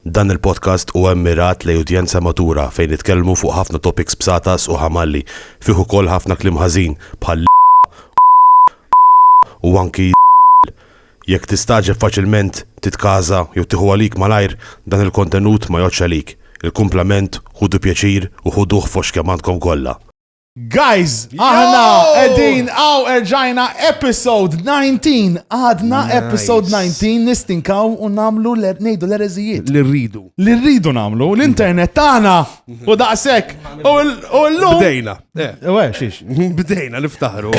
Dan il-podcast huwa mmirat lejn udjenza matura fejn nitkellmu fuq ħafna topics bsatas u ħamalli, fih ukoll ħafna kliem ħażin bħal l, u anki l. Jekk tistagħġeb faċilment, titkaża jew tieħu għalik malajr, dan il-kontenut ma jgħoddx għalik. Il-kumplament, ħudu pjaċir u ħuduh fost kemm għandkom kollha. Guys, aħna edin għaw erġajna episode 19, għadna episode 19 nistinkaw u namlu nejdu l-erezijiet. Li rridu. Li rridu namlu, l-internet tana u daqsek. U l-lum. Bdejna. Eh. U xiex. Bdejna niftaħru.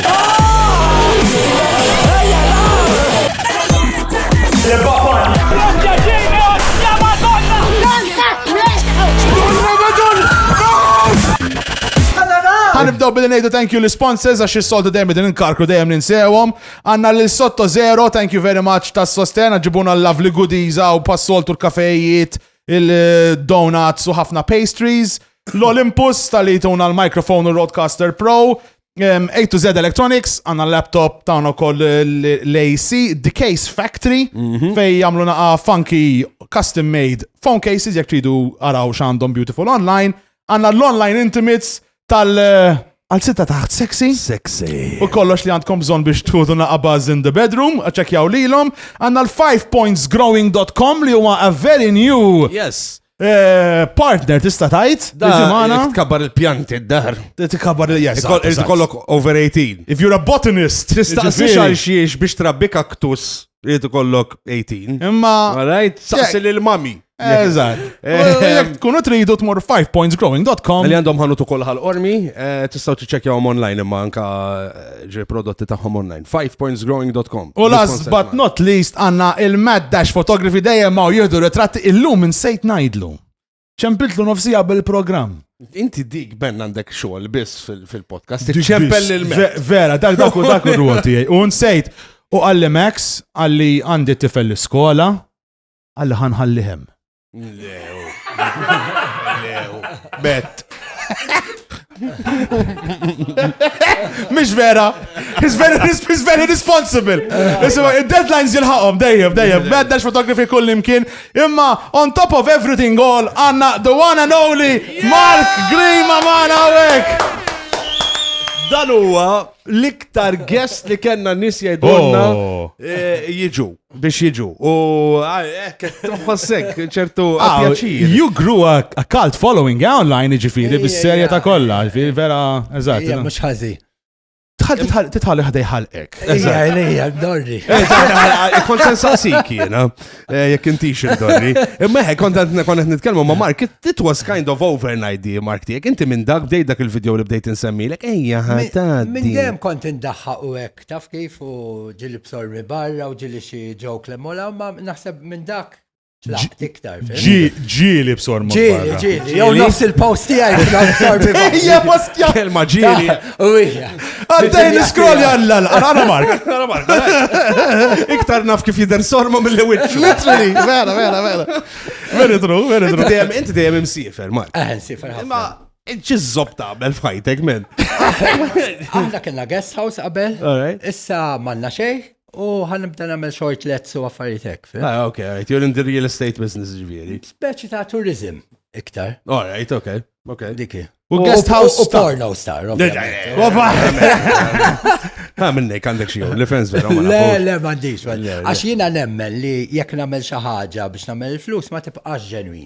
Għanibdaw billi nejdu thank you l-sponsors għax il-soltu dejjem din inkarkru dejjem ninsewhom. Għanna l sotto zero, thank you very much tas sosten ġibuna l-lovely goodies għaw passoltu l-kafejiet, il-donuts u ħafna pastries. L-Olympus tal-li tuna l-microphone u roadcaster pro. A to Z Electronics, għanna laptop ta' għana koll l-AC, The Case Factory, mhm. fej jamlu naqa funky custom made phone cases, jek tridu għaraw xandom beautiful online, Għanna l-online intimates tal għal sitta taħt sexy. Sexy. U kollox li għandkom bżon biex tħudu naqabaz in the bedroom, ċekjaw lilhom. Għanna l-5pointsgrowing.com li huwa a very new. Yes. Eh, partner tista' tajt, diġimana. Tkabbar il-pjanti d-dar. Tkabbar il-jas. Kollok over 18. If you're a botanist. Tista' xiex biex trabbi kaktus Rridu kollok 18. Imma. Alright, saqsi lil mami. Eżatt. Jek tkunu tridu tmur 5pointsgrowing.com. Li għandhom ħanu tukol ħal ormi, eh, tistaw tiċċekjawhom online imma anka eh, ġi prodotti tagħhom online. 5pointsgrowing.com. U last but not least għanna il-Mad Dash Photography dejjem ma jieħdu ritratti illum insejt najdlu. ċempiltlu nofsija bil-programm. Inti dik ben għandek xogħol biss fil-podcast. Ċempel il Vera, dak dak u dak u rwol tiegħi. U nsejt, u għalli Max, għalli għandi tifel l-iskola, għalli ħanħalli hemm. Lew. Lew. Bet. Mish vera. He's very, he's very responsible. Isma, il-deadlines jilħaqom, dejjem, dejjem. Beddax fotografi kull imkien. Imma, on top of everything all, għanna the one and only Mark Green mamana għawek. Dan huwa l-iktar guest li kena nis jajdonna oh. eh, jiġu. biex jiġu. U hekk tħossek ċertu ah, pjaċir. You grew a, a cult following eh, online ġifiri bis-serja ta' kollha, ġifiri vera eżatt. Ija mhux ħażi. Titħalli ħdej ħalqek. Ija, ija, dorri. Kont sen saqsik jiena, eh, jekk intix dorri. Imma hekk kont qed nitkellmu ma' Mark, it was kind of overnight di Mark tiegħek. Inti minn dak bdejt dak il-video li bdejt insemmilek, ejja ħadd. Minn dejjem kont indaħħaq u hekk. taf kif u ġili b'sormi barra u ġili xi ġok li mola, ma naħseb minn dak tlaqt iktar. Ġili b'sormi barra. Ġili, ġili, jew nofs il-post tiegħi b'sormi barra. Ija postja. Kelma ġili. U ija. Għaddej niskrolli għalla, għara mark. Għara mark. Iktar naf kif jider sorma mill-li wicċ. Literally, vera, vera, vera. Very true, very true. Inti dejjem imsifer, Mark. Eħen, sifer. Ma Ċiżżob tagħmel f'ħajtek men. Aħna kellna guest house qabel, issa manna xejn u ħanibda nagħmel short lets u affarijiet hekk. Ah, ok, right. You're in the real estate business ġifieri. Speċi ta' tourism iktar. All right, ok. Ok. Diki. U guest house. U porno star. Ha minnek għandek xie, li fens vera. Le, le, mandiġ. Għax jina nemmen li jek namel xaħġa biex namel il-flus ma tibqax ġenwi.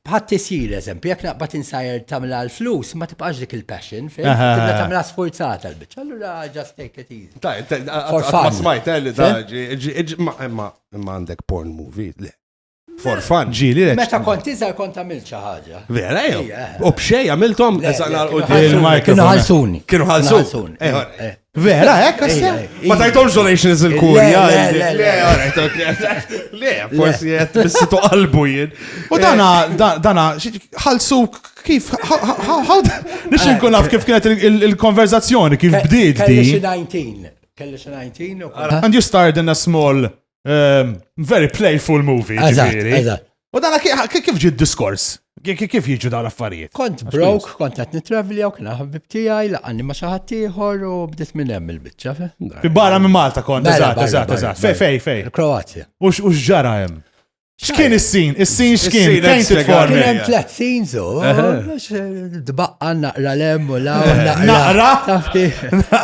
Bħat-tisjir, eżempju, jekk naqbad insajr tagħmilha l-flus, ma tibqax dik il-passion, fejn tibda tagħmilha sfurzata l-biċċa, allura just take it easy. Ta' ma smajt eh, li daġi, imma għandek porn movie, le. For fun. Ġili. Meta kont iżgħar kont għamilt xi ħaġa. Vera jew. U b'xej għamilthom il-market. Kienu ħalsuni. Kienu ħalsuni. Eh, eh. Vera, hekk għassa? Ma tajtomx donations il-kurja. Le, le, le, forsi jett bissitu qalbu jien. U dana, dana, ħalsu kif, nix nkun naf kif kienet il-konverzazzjoni, kif bdiet di. Kelli xi 19. And you started in a small Ehm, very playful movie, ġifiri. U dana kif ġi diskors? Kif jiġu dawn l-affarijiet? Kont brok, kont qed nitravli u kien ħabib tiegħi laqani ma' xi ħadd ieħor u bdiet minn hemm il-biċċa. Fi barra minn Malta kont, eżatt, eżatt, eżatt. Fej, fej, fej. Kroazja. U x'ġara hemm? X'kien is-sin? Is-sin x'kien? Fejn titform? Kien hemm tliet sin so. Dbaqqa naqra lem u la naqra.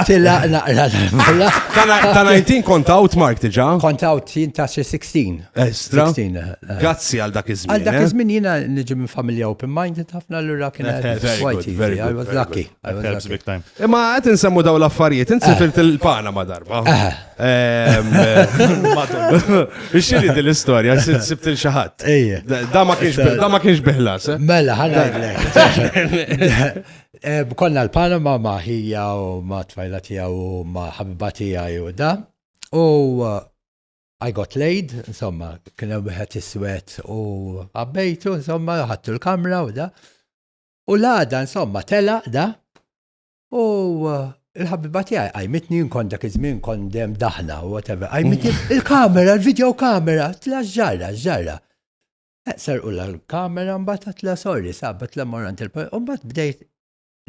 Tila naqra lem u la. Ta' 19 kont out Mark diġà? Kont out jien ta' xi 16. Eh, eh, eh. Grazzi għal dak iż-żmien. Għal dak iż-żmien jiena niġi minn familja open minded ħafna lura kien I was lucky. Imma qed insemmu daw l-affarijiet, insifilt il-pana ma' darba. Ixxiri din l-istorja, sibt il xaħat. Da ma kienx biħlas. Eh? Mela, ħanna eh, Konna l-Panama ma ħija u ma tfajla tija u ma ħabba tija u da. U eh, I got laid, insomma, kien hemm wieħed iswed u għabbejtu, insomma, ħattu l-kamra u da. U l-għada, insomma, tela da, U il-ħabiba tiegħi qajmitni jien kont dak iż-żmien kont dem daħna u whatever. Qajmitni il-kamera, il-video kamera, tla ġarra, ġarra. Eqser u l-kamera mbagħad tla sorry, sabat tla morant il-pajjiż. U mbagħad bdejt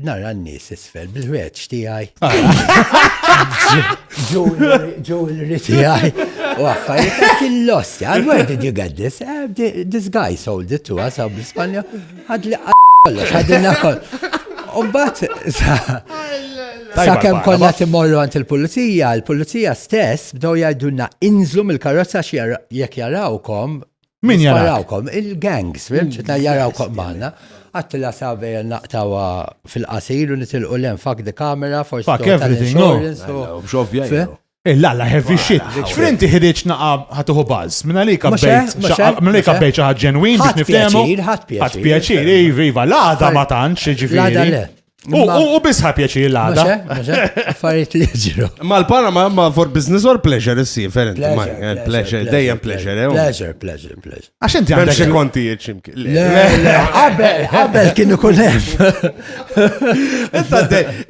nara n-nies isfel bil-ħreġ tiegħi. Jewelry tiegħi. U affarijiet kien lost. Where did you get this? Eh, this guy sold it to us out in Spanja. Ħad li kollox, ħadilna kollox. Umbat, sa' kem konna timorru għant il-pulizija, il-pulizija stess bdew jgħidunna inżlu mill-karozza jekk jarawkom. Min jarawkom? Il-gangs, fimċitna mm, jarawkom maħna. Għattila sa' bejja naqtawa fil-qasir u nitilqu l-en fak di kamera, forsi. Fak everything, no. Il-lalla heavy shit. X'frinti ħiriġ naqa ħatuħu buzz. Minna li kabbejt. Minna li kabbejt ħaġ ġenwin biex niftehmu. Ħadd pjaċir, iva, iva, l-għada ma tantx, ġifieri. U bisħa pjaċir l-għada. Affarijiet li ġiru. Ma l-para ma ma for business or pleasure issi, ferent. Eh, pleasure, dejjem pleasure. Eh, oh. Pleasure, pleasure, pleasure. Għax inti għandek. Bemxie konti jieċimki. Le, le, għabel, għabel kienu kunem.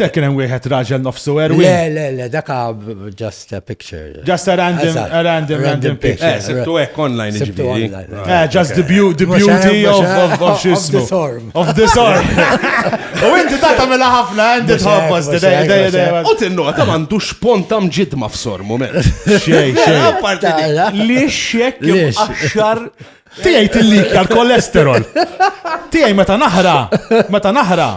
Dak kien hemm wieħed raġel nofsu erwi. Le, le, le, dak just a picture. Just a random, a random, random picture. Eh, sibtu hekk online ġifieri. Eh, just the beauty of of xismu. Of the sort. U inti ta' tagħmilha ħafna għandi tħobbos U tinnu ta' m'għandux pont hemm ġidma f'sor moment. Xej, xej. Li xek axar Tijaj tillikja l-kolesterol. Tijaj meta naħra, meta naħra,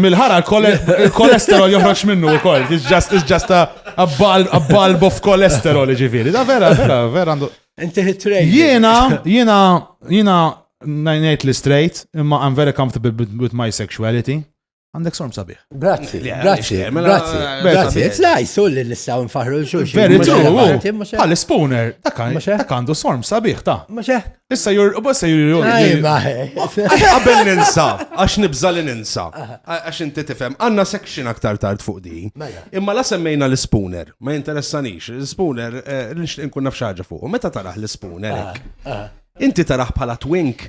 mill-ħara l-kolesterol joħroġ minnu u koll. It's just, it's just a, a, bulb, a bulb of kolesterol ġifiri. Da vera, vera, vera għandu. Inti hitrejn. Jena, jena, jena, najnejt li straight, imma I'm very comfortable with my sexuality. Għandek sorm sabiħ. Grazzi, grazzi, grazzi. Grazzi, it's nice, u li nistaw nfaħru l-xulxin. Very true, għal spooner, dak għandu sorm sabiħ ta' Maċe? Issa jur, u bassa jur jur. Għabel ninsa, għax nibza li ninsa. Għax inti tifem, għanna section aktar tard fuq di. Mela. Imma la semmejna l-spooner, ma jinteressanix, l-spooner, eh, l-nxtin kun nafxaġa fuq. Meta taraħ l-spooner? Ah, ah. Inti taraħ bħala twink?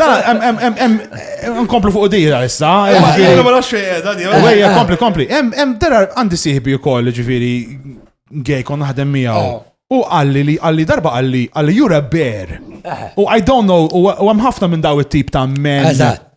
Da, nkomplu fuq dira issa. Jena ma nafx da di. Wejja, kompli, kompli. Em, dera għandi siħbi u koll, ġifiri, gej kon naħdem miegħu. Oh. U għalli li għalli darba għalli għalli you're a bear. Eh. U I don't know, u għam ħafna minn daw it-tip ta' men. Eżatt.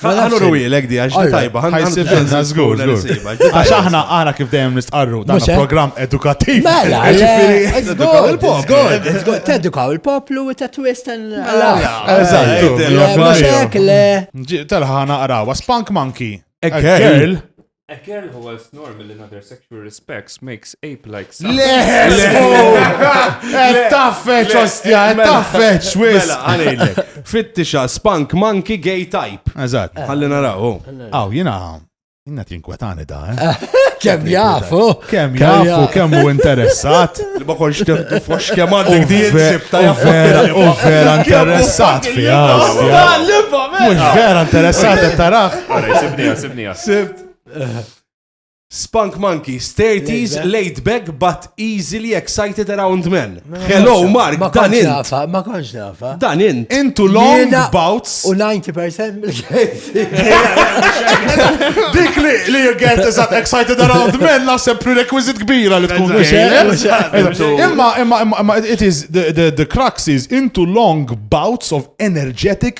Għallu ruwilek di, għax tajba, għanna zgur, Għax aħna aħna kif dejjem nistqarru, dan program edukativ. Mela, edukaw il-poplu. Tedukaw il-poplu u ta' twist Eżatt. Telħana għarawa, Spunk Monkey. A girl. A girl who was normal in other sexual respects makes ape-like sounds. Leħes! Eh, taffeċ, ostja, eh, mela, taffeċ, wis! Mela, għanilek. Fittixa, spank, monkey, gay type. Eżat. Eh. Għalli naraw. Oh. Aw, jina, jina tinkwetani da, eh? Kem jafu? Kem jafu, kem u interessat? Li ma konx temtu fox kem għandek di jinsibta jafu. U vera interessat fija. Mux vera interessat, tarax. Għara, jisibni, jisibni. Sibt. Spunk Monkeys, 30s, laid back but easily excited around men. Hello, Mark, dan int. Ma konx nafa. Dan int. Intu long bouts. U 90% mill-kejsi. Dik li li you get is that excited around men naħseb prerequisite kbira li tkun Imma, imma, imma, it is, the, the, the crux is into long bouts of energetic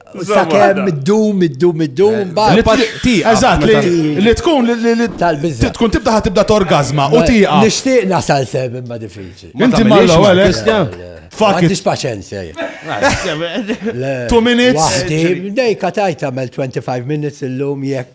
Sakemm id-dum, id-dum, id-dum, Eżatt, li tkun li tkun tibda tibda torgazma u tiqa. Nixtieq nasal sem imma diffiċli. Inti ma l-ewwel Kristjan. Fuck it. paċenzja. Two minutes. Dejka tajt għamel 25 minutes illum jekk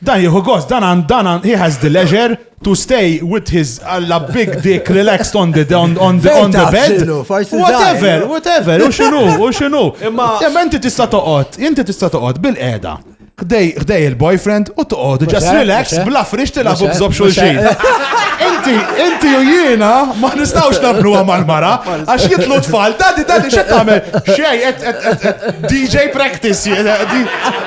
Dan jieħu gost, dan għan, dan għan, he has the leisure to stay with his alla big dick relaxed on the, on, on the, on the bed. Whatever, whatever, u xinu, u xinu. Imma. Imma inti tista toqot, inti tista toqot bil-qeda. Gdej il-boyfriend u toqod, just relax, bla frix tilabu bżob xulxin. Inti, inti u jiena ma nistawx nablu mal-mara, għax jitlu tfal, dadi, dadi, xet tamel, xej, DJ practice,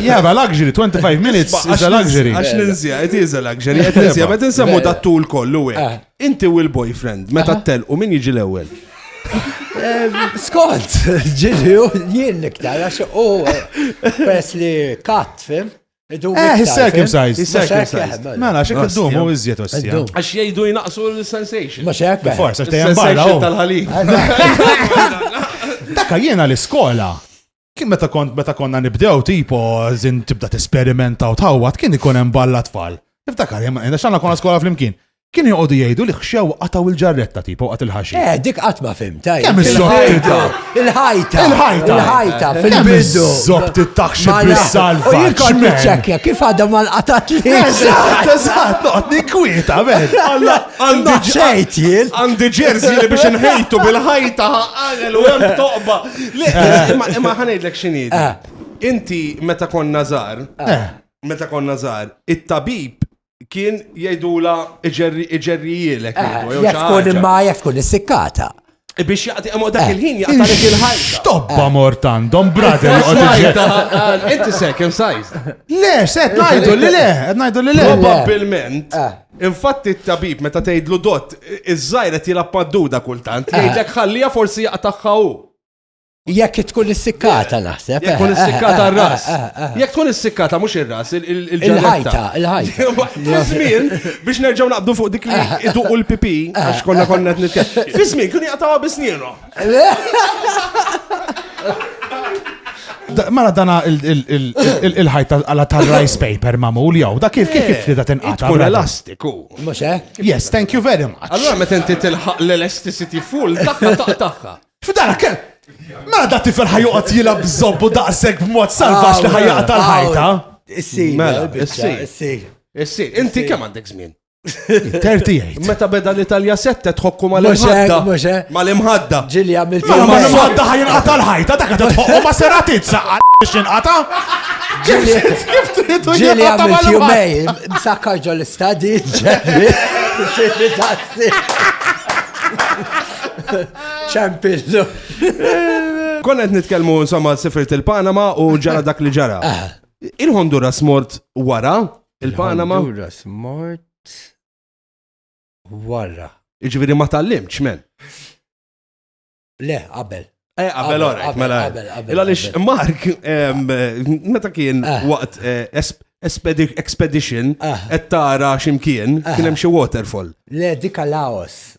Yeah, but luxury, 25 minutes is a luxury. Għax ninzja, it is a luxury. Għet ninzja, bet nsemmu da tul kollu għek. Eh. Inti u l-boyfriend, meta eh. tel u min jiġi l-ewel? Eh, Skont, ġili u jien niktar, għax u pres li kat, fim? Eh, he's circumcised. He's circumcised. Mela, xek id-dum u iżjed ossija. Għax jgħidu jnaqsu l-sensation. Ma xek. Forse, għax tejan barra. Oh. tal-ħalib. Daka jiena l-iskola. Kien meta kont meta konna nibdew tipo zin tibda t-esperimenta u tħawat kien ikun hemm balla tfal. Niftakar, jemma, xanna konna skola fl-imkien. Kienu joqogħdu jgħidu li ħxew qatgħu l-ġarretta tipo waqgħet il-ħaxix. Eh, dik qatt ma fimta. Kemm iż-żottita? Il-ħajta. Il-ħajta. Il-ħajta fil-bidu. Żottita ħxi bis-salva. U jikon tiċċekkja kif għadha ma nqatat li. Eżatt, eżatt, noqgħod ninkwieta ben. Alla għandi ġejt jien. Għandi ġerżi li biex inħejtu bil-ħajta ħaqal u hemm toqba. Eh. Imma ħanejdlek x'inhi. Eh. Inti meta konna żgħar, meta konna żgħar, it-tabib kien jgħidula iġerrijielek. Eh, jek tkun imma jek tkun issikkata. Eh, biex jaqti għamu dak eh, il-ħin jaqtalek il-ħajja. Stoppa mort għandhom, brother, jgħod Inti second size. Le, set najdu li le, najdu li le. Probabilment, infatti t-tabib meta tgħidlu dot, iż-żajret jilappadduda kultant, jgħidlek ħallija forsi jaqtaħħaw. Jekk tkun issikkata naħseb. Jekk tkun issikkata r-ras. Jekk tkun issikkata mhux ir-ras, il-ġajta. Il-ħajta, il-ħajta. Żmien biex nerġgħu naqbdu fuq dik li iduqu l-pipi għax konna konna qed nitkellem. Fi żmien kien jaqtgħu bisnienu. Mara dana il-ħajta għala ta' rice paper mamul jow, da kif kif kif li da tinqata. Tkun elastiku. Mux eh? Yes, thank you very much. Allora meta inti tilħaq l-elasticity full, taqqa taqqa. F'dak, ma da tifel ħajoqgħod jilgħab bżobbu daqshekk b'mod salvax li ħajjaq tal-ħajta. Issir, mela, issir. Issir, inti kemm għandek żmien? 38. Meta beda l-Italja sette tħokku mal-imħadda. Mal-imħadda. Ġili għamil fil Ma l-imħadda ħajin għata l-ħajta, dakka tħokku ma seratit saqqa biex inqata. Ġili kif trid ġili għamil jumej, msakkar ġo l-istadi, ġili. ċampillu. Konna qed nitkellmu insomma sifirt il-Panama u ġara dak li ġara. Ah. Il-Honduras mort wara il-Panama. Il-Honduras mort wara. Iġviri ma tal-limċ, men. Le, qabel. Eh, qabel ora, mela. Illa lix Mark, meta kien ah. waqt eh, expedition, qed ah. tara ximkien, kien hemm xi waterfall. Le, dika Laos.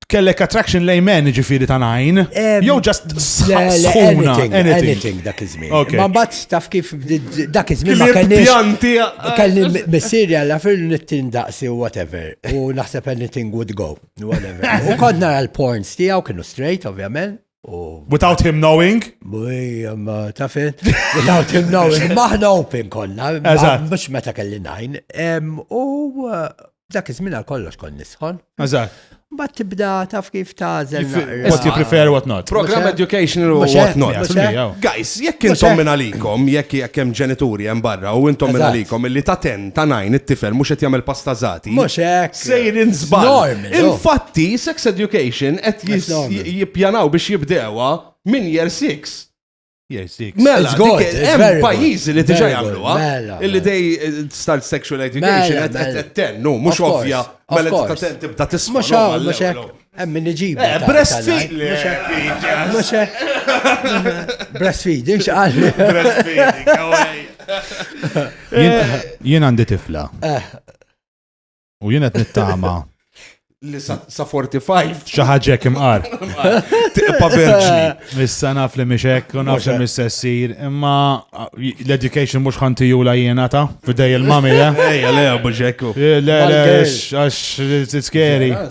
Kellek attraction lejn men ġifiri ta' najn. Jew ġast sħuna. Anything dak iż-żmien. Ma bat taf kif dak iż-żmien ma kellix. Pjanti. Kelli missieri għalla fil nittin daqsi u whatever. U naħseb anything would go. Whatever. U kont nara l-porns tiegħu kienu straight, ovvjament. Without him knowing? Ma tafet, without him knowing. Maħna open konna, mux meta kelli najn. U uh, dak iż-żmien għal kollox kon nisħon. Eżatt. Ma tibda taf kif tażel. What you prefer, what not. Program educational u what not. Guys, jekk intom minn għalikom, jekk jekk hemm ġenituri hemm barra u intom minn għalikom illi ta' ten Ta' najn, it-tifel mhux qed jagħmel pasta żgħati. Mhux hekk. Sejrin żball. Infatti, sex education qed jippjanaw biex jibdewha minn year 6. Year 6. Mela, hemm pajjiżi li diġà jagħmluha. Mela, illi dej mela. eh, start sexual education mela, qed tennu, mhux ovvja. Mela tibda tisma' mhux hekk. Hemm min iġibu. Eh, breastfeed. Mhux breastfeeding x'qal. Breastfeeding, Jien għandi tifla. Eh. U jien qed nittama li sa 45. Xaħġek imqar. Tiqpa verġni. Issa naf li miexek, u naf li mis-sessir, imma uh, l-education mux ħanti jula jena ta' fidej il-mami, eh? Ejja, le, buġekku. Le, le, għax, it's scary.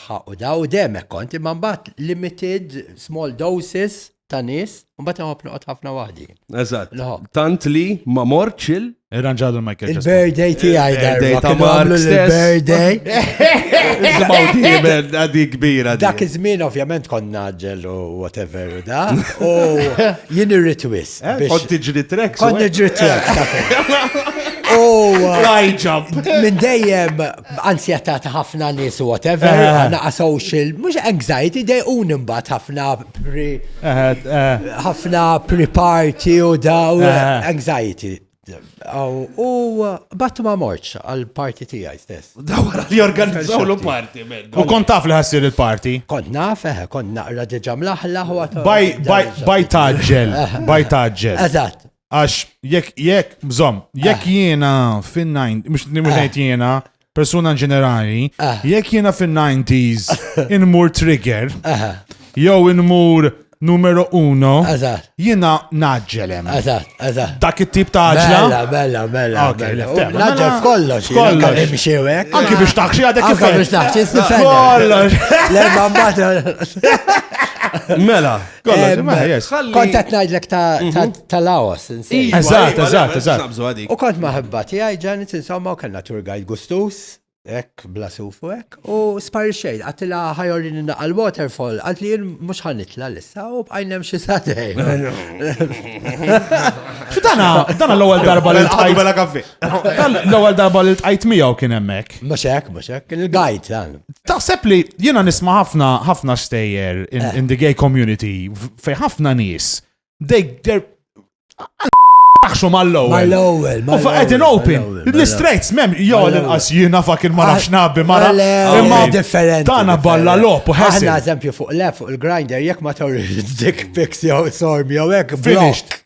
Ħa u da u dejjem hekk kont, imma mbagħad limited small doses ta' nies, u mbagħad inħobb noqgħod ħafna waħdi. Eżatt. Nħobb. Tant li ma mortx il- Irranġalu l-Michael Jackson. Il-birthday tiegħi Il-birthday darba. ta' kienu Mark għamlu stess. l-birthday. Nisimgħu diemen għadi kbira. di. Dak iż-żmien ovvjament konna ġel u whatever u da. U jien irrid wis. Eh, biex- Kont tiġri treks. Kont u hekk. niġri trek. U uh, Fly jump. minn dejjem Anzjetà ta' ħafna nies u whatever, ħafna social, mhux anxiety, dejquni mbagħad ħafna pre. ħafna pre-party u daw anxiety. U bat ma morċ għal-party tijaj stess. Dawra li organizzaw l party U kont taf li ħassir il-party? Kont naf, eħe, kont naqra diġa mlaħlaħ u Baj taġġel, baj taġġel. Eżat, Għax jekk jekk bżomm, jekk ah. jiena fin-90, mhux ngħid ah. jiena, persuna ġenerali, ah. jekk jiena fin-90s inmur trigger, jew inmur numero uno, jiena naġġelem. Dak it-tip ta' ġla. Bella, bella, bella. Naġġel mela- kollox, kollox. Anki biex taħxi għadek kif. Anki biex taħxi, kollox. Mela, Kollox, ma ħajjex. Ħalli- Kont qed ngħidlek ta' ta- Mhm. ta' Laos. insejn. Iva, Eżatt, iva, eżatt, le, eżatt. nabżu għadik. U kont maħibba tiegħi ġanet insomma u kellna tour guide gustus, hekk bla suf u hekk, u sparixxejn għatilha ħajorini naqal waterfall, għad li jien mhux ħanitla lissa u bqajn hemm xi satej. Dana, dana l-ewwel darba li Għadu tqajt. bela kaffi. L-ewwel darba li tqajt miegħu kien hemmhekk. Mhux hekk, mhux hekk, kien il-gajt dan. Taħseb li jiena nisma' ħafna ħafna stejjer in, eh. in the gay community fej ħafna nies. They they're Taħxu mal-lowel. Mal-lowel. U faqet in open. L-istrejts mem, jo l-inqas jina fak il mara xnabi mara. Imma differenti. Tana balla lop u ħessi. Għanna eżempju fuq le fuq il-grinder, jek ma tawri dik piks jow sorm jow ek. Finished.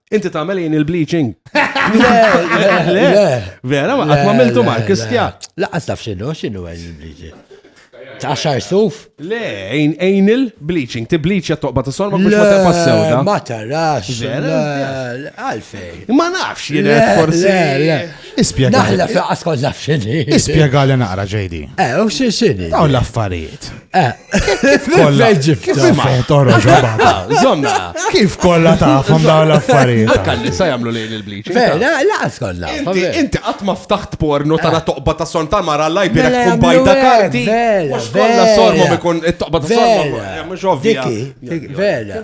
Inti tagħmel jien il-bleaching. Le, vera, ma qatt ma miltu ma kistja. Laqas taf x'inhu, x'inhu għajn il-bleaching. Taxar suf? Le, għajn il-bleaching, ti bleachja toqba ta' sorma biex ma taqba sewda. Ma tarax. Għalfej. Ma nafx jien forsi. Ispjega. Naħla fl-qas kont naf x'inhi. Ispjega li naqra ġejdi. Eh, u x'inhi. Dawn l-affarijiet. Kif kolla ġifta? Fotoro ġabata. Zomna. Kif kolla tafhom dawn l-affarijiet? Kalli sa jagħmlu lejn il-bliċ. Vera, laqas kolla. Inti qatt ma ftaħt porno tara eh. toqba ta' son tal-mara lajb bira mela, tkun bajda karti. Mhux kollha sormom ikun it-toqba ta' sormom. Eh, mhux ovvja. Vera.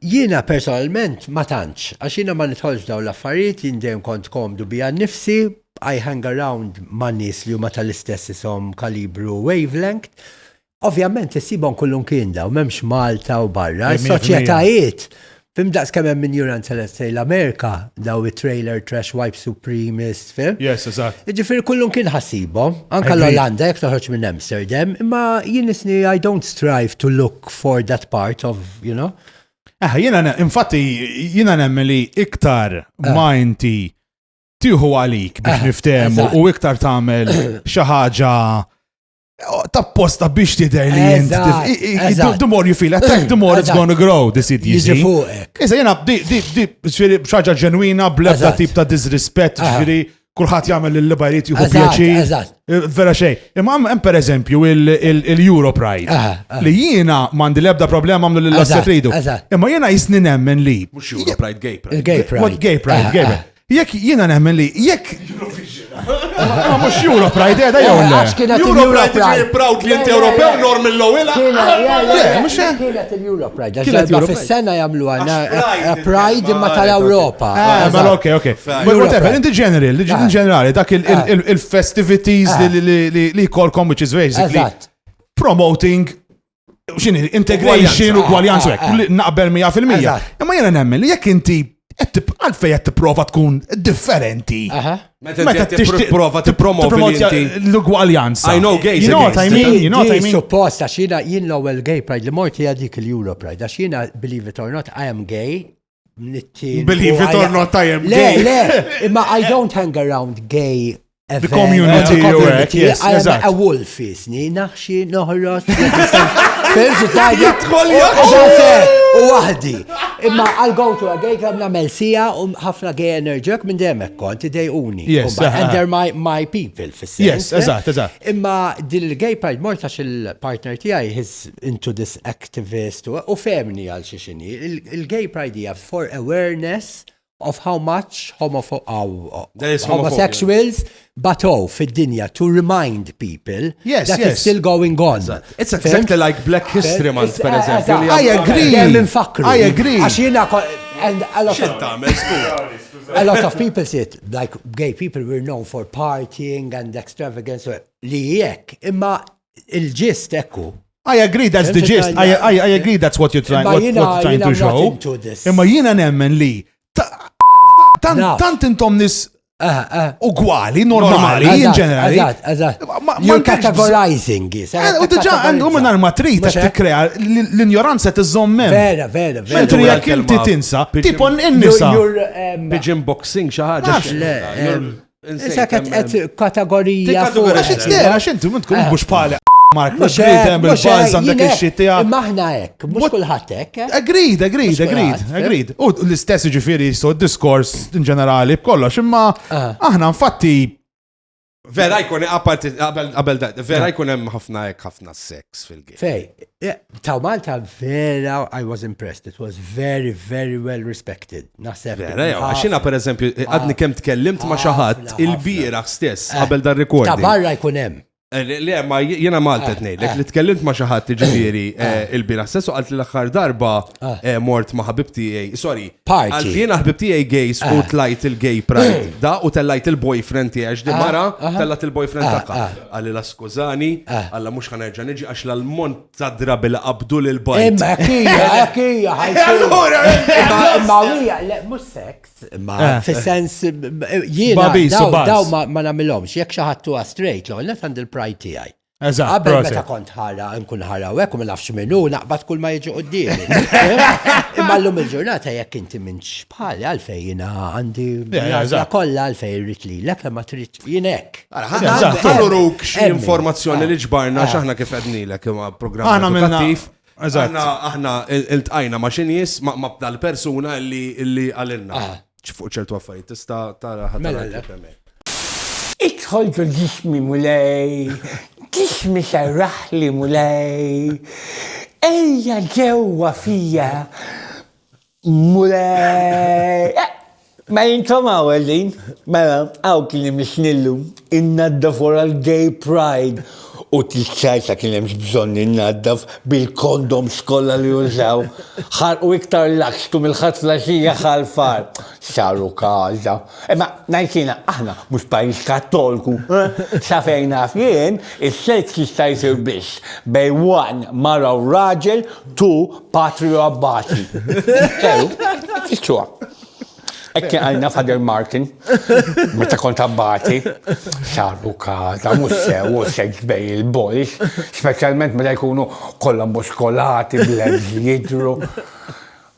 Jiena personalment ma tantx, għax jiena ma nidħolx f'dawn l-affarijiet, jien dejjem kont komdu bija nnifsi, I hang around ma' nies li huma tal-istess ishom kalibru u wavelength. Ovvjament issibhom kullimkien dawn, m'hemmx Malta u barra, is-soċjetajiet, fhim daqskemm hemm injuranza let's say l-Amerika, dawn it-trailer trash wife supremist, Fim? Yes, eżatt. Ġifir kullum kien ħassiba, anka l-Olanda jek toħroġ minn Amsterdam, imma jien isni I don't strive to look for that part of, you know. Eh, jina, infatti, jina nemmen li iktar eh. ma inti tiħu għalik biex eh, niftemu u iktar tamel xaħġa Oh, tapposta biex tidher li jent. The more you feel attack, the more it's gonna grow, this it jiġi. Iżda jena, di, di, di, ġviri, xaġa ġenwina, blebda tip ta' disrispet, ġviri, kullħat jgħamil l-libajriet juhu pjaċi. Eh, vera xej. Imma hemm per eżempju il-Euro Pride. Li jiena mandi lebda problema għamlu l-asset ridu. Imma jiena jisni nemmen li. Mux Euro Pride, Gay Pride. Gay Pride, Gay Pride. Jekk jiena nemmen li jekk. Ma mhux Europe Pride qiegħda jew le. Għax kienet Europe Pride proud li inti Ewropew norm il-lowila. Kienet il-Europe Pride. Kienet Europe fis-sena jagħmlu għandna Pride imma tal-Ewropa. Ma ok, ok. Whatever, inti ġenerali, inti ġenerali dak il-festivities li kolkom which is basically promoting xini, integration u gwaljanza, eh, eh, eh. naqbel 100%. Imma jena nemmen li jekk inti għalfej qed tipprova tkun differenti. Meta tipprova tippromovi l-ugwaljanza. I know gays. You know what I mean? You know what I mean? Suppost għax jiena jien l-ewwel gay pride li morti għadik il-Euro pride għax jiena believe it or not I am gay Nittin. Believe it or not, I am gay. Le, le, imma I don't hang around gay The community, yes, I am a wolf, jisni, naħxi, noħrot, Fimsu tajja. U wahdi. Imma I'll go to a gay club namel sija u ħafna gay enerġek minn demek kont idejuni. Yes. And they're my, my people fis Yes, eżat, eżat. Imma din il-gay part mortax il-partner tijaj his into this tivvestu u fehmni għal xiex inhi. Il-gay pride hija for awareness of how much homosexuals batow fid-dinja to remind people yes, that yes. it's still going on. It's exactly like Black History Month, per eżempju. I agree. I agree. Għax jina and a lot of a lot of people said like gay people were known for partying and extravagance li jekk imma il-ġist ekku. I agree that's the gist. I, I, I agree that's what you're trying, what, what you're trying to show. Imma jina nemmen li tant intom nis ah, ah. ugwali, normali, in ġenerali. You're categorizing. Eh, u diġa għandu minn arma trit għat t-krea l-ignoranza t-zommen. Vera, vera, vera. Mentri jek inti tinsa, tipon in-nisa. Pigeon boxing xaħġa. Issa qed qed kategorija fuq. Għax it-tera għax inti minn tkun mhux bħala Mark, mux għidem bil-bajza dak il-xit tija. Maħna ek, mux kullħat ek. Eh? Agreed, agreed, agreed, eh? agreed. U l-istess ġifiri jistu diskors in ġenerali b'kollox, imma ah. aħna infatti Vera jkun apparti qabel da, vera ah. jkun hemm ħafna hekk ħafna sex fil-game. Fej, eh, taw Malta vera I was impressed. It was very very well respected. Naħseb. Vera, jew, għax jiena pereżempju eh, għadni kemm tkellimt ma' xi ħadd Ħafna, il-bieraħ stess Eh, qabel dan Ta' recording. barra jkun hemm. Eh, Le, le, ma j- jiena Malta Eh, tnejlek eh. li tkellimt ma' xi ħadd jiġifieri eh, il-bieraħ stess u qalt li l-aħħar darba Eh. eh, mort ma' ħabib tiegħi, sorry. Party. Eh. Qalt li jiena ħabib tiegħi gays u tlajt il-gay pride da u tellajt il-boyfriend tiegħi għax di Ah, mara aha. tellat il-boyfriend Ah, tagħha. ah. Għalli la skużani, Eh. għalla mhux ħanerġa' niġi għax l-ammont Sa drabi li qabdu lil bajt. Imma hija, hija, Allura, imma hija, le, mhux sex, imma eh. fis-sens jiena daw ma nagħmilhomx, jekk xi ħadd huwa straight, l net għand il-pride tiegħi. Eżatt. Qabel meta kont ħara, nkun ħara u hekk u ma nafx minnu, naqbad kull ma jiġi quddiem. Imma llum il-ġurnata jekk inti minn xbħali għalfejn jiena għandi kollha għalfejn rrid lilek ma trid Jien hekk. Ħallu ruk xi informazzjoni li ġbarna ah. x'aħna kif qednilek ma' programm Aħna minna. Aħna aħna iltqajna ma' xi nies ma' bdal persuna li għalilna. Ah. Fuq ċertu affarijiet tista' tara ħadd. Mela, mela. Idħol ġismi mulej, ġismi serraħli mulej, ejja ġewwa fija Mulej! Ma jintom hawn għedin? Mela, hawn kien hemm is-snillu, innaddaf wara l-gay pride u tis-salsa kien hemmx bżonn innaddaf bil-kondoms kollha li użaw. Ħarqu iktar l-akstu mill-ħadd fl-għaxija ħal-far. Saru każa. Imma ngħid jiena aħna mhux pajjiż kattolku, eh? Sa fejn naf jien, is-seks jista' jsir biss bejn one mara u raġel tu patrio abbati. Sew, tissuha. Hekk kien għalina Father Martin, meta kont abbati, saru kaza, mhux sew u seks bej il-boys, speċjalment meta jkunu kollha muskolati, blebs jidru.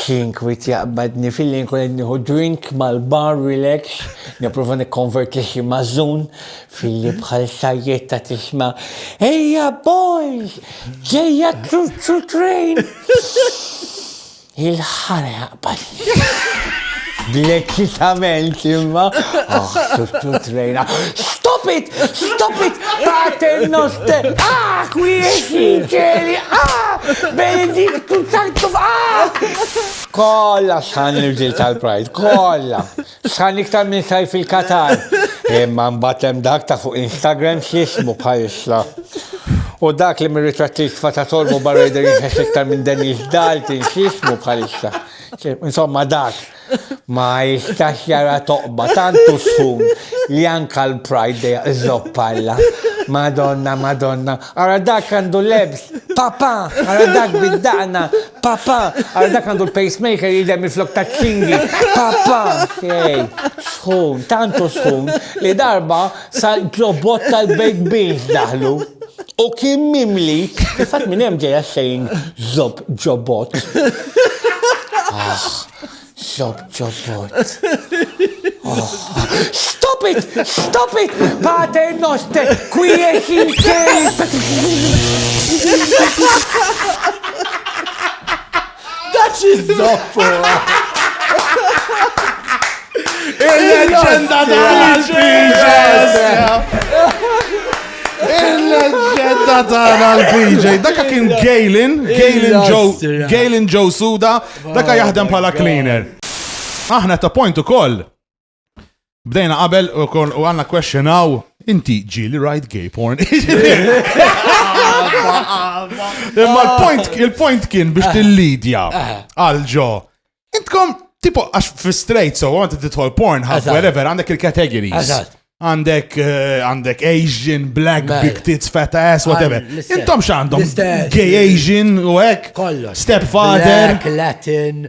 Ħin kwiet jaqbadni filli nkun qed nieħu drink mal-bar relax, nipprova nikkonverti xi mażżun filli bħal sajjetta tisma' Ejja boys! Ġejja ċuċċu train! Il-ħara jaqbadni. Bl-eċitament imma. Oh, tuttu trejna. Stop it! Stop it! Pater noster! Ah, kwiesi ċeli! Ah! Benediktu sanctum! Ah! Kolla san l-ġil tal-prajt, kolla. San iktar minn sajf il-Katar. Imma mbatem dak ta' fuq Instagram xismu bħalissa. U dak li mir-ritratti tfata tolmu barra jider jinħes iktar minn Dennis Dalton xismu bħalissa. Insomma dak ma jistax jara toqba tantu sħun li anka l-pride dejja iżoppalla. Madonna, madonna, ara dak għandu lebs, papa, ara dak bid-daqna, papa, ara dak għandu l-pacemaker jidem il-flok ta' ċingi, papa, xej, sħun, tantu sħun li darba Sal-ġobot tal-baked beans daħlu u kien mimli. Fil-fatt minn hemm ġejja xejn żob ġobot. Ah, żob ġobot. Oh. Stop it! Stop it! Pater noster! Quiet in Daċ iż-zoppo! Il-leġenda Il-leġenda tagħna l-PJ. Daka kien Galen, Galen Joe, Galen Joe Suda, daka jaħdem bħala cleaner. Aħna ta' point ukoll Bdejna qabel u kon u għanna question għaw, inti ġili rajt gay porn. Imma l-point, il-point kien biex til-lidja għal-ġo. Intkom, tipo, għax fi straight, so għant titħol porn, għaf, whatever, għandek il-categories. Għandek, eh, għandek Asian, black, big tits, fat ass, whatever. Intom xandom, gay Asian u ek, stepfather, Latin,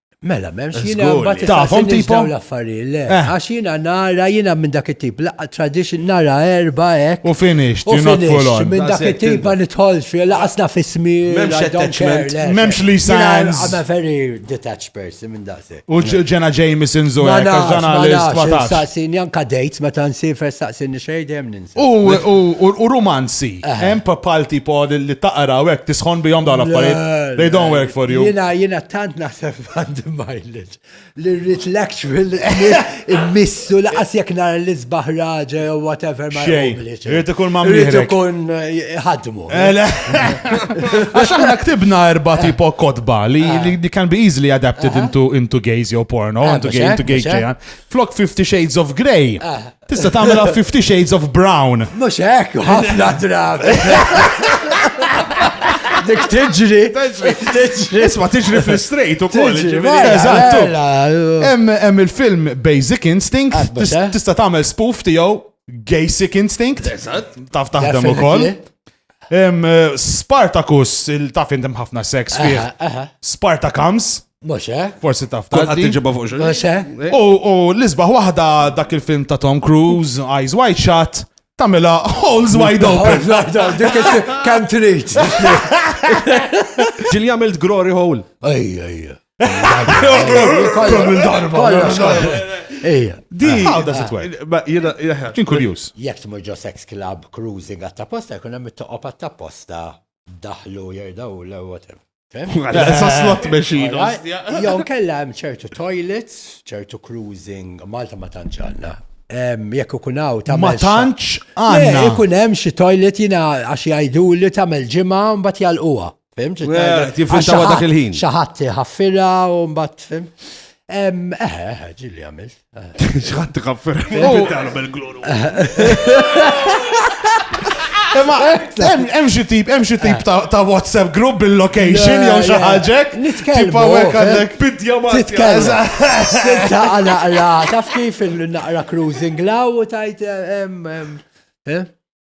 Mela, memx jina mbagħad tafhom tipo l-affarijiet, le. Eh. Għax jina nara jina minn dak it-tip, laqqa tradition nara erba hekk. U finish, u finish, minn dak it-tip ma nidħolx fi laqasna fismi. Memx attachment, memx li signs. I'm a very detached person minn dak. U ġena Jameson Zoya, ġena l-istwatax. Saqsin janka dates meta nsir saqsin xejn dejjem U rumanzi, eh. hemm papal tipo li taqra u hekk tisħon bihom dawn l-affarijiet. They don't work for you. Jina, jina tant naħseb għandi mileage li rrit l-actual immissu laqas jek nar l-isbaħ raġa jew whatever ma jgħidlix. Rrit ikun ma Rrit ikun eh, ħadmu. Eh, Għax aħna ktibna erba tipo kotba li can be easily adapted into gays jew porno, into gay, into gay Flok 50 Shades of Grey. Tista' tagħmilha Fifty Shades of Brown. Mhux hekk, ħafna drabi. Dik tiġri. Tiġri. Isma tiġri fl-straight ukoll. Eżattu. Hemm il-film Basic Instinct eh? tista' tagħmel spoof tiegħu Gasic Instinct. Taf taħdem ukoll. Spartacus, il-taf inti ħafna sex fih. Spartacams. Moshe. Eh? Forsi taf ta' għad tiġiba fuq xogħol. Moshe. Eh? U l-isbaħ waħda dak il-film ta' Tom Cruise, Eyes Wide Shut, tamela holes wide open. Kam trid. Ġil jagħmel glory hole. Ejja, ejja. Kollum darba. Ejja. Di. How does it work? Ma jena, kien kurjus. Jek tmur ġo sex club, cruising għatta posta, jkun hemm it-toqob għatta posta, daħlu jirdaw l whatever. Sa slot machine. Jow kella hemm ċertu toilets, ċertu cruising, Malta ma tanġanna. Jekk ikun hawn ta' Ma tantx għandna. Ikun hemm xi toilet jiena għax jgħidu li tagħmel ġimgħa mbagħad jalquha. Fimx? Tiffintawa dak il-ħin. Xaħat ħaffira u mbatt, fim. Eħe, eh, eħe, ġilli għamil. Xaħat ħaffira. Tiffintawa bil-gloru. Hemm xi tip, hemm xi tip eh. ta' WhatsApp group bil-location jew xi ħaġek. Nitkellmu. għandek bidja ma. Titkellmu. Taqra naqra, taf kif il-naqra cruising law u tajt eh, hemm. Eh?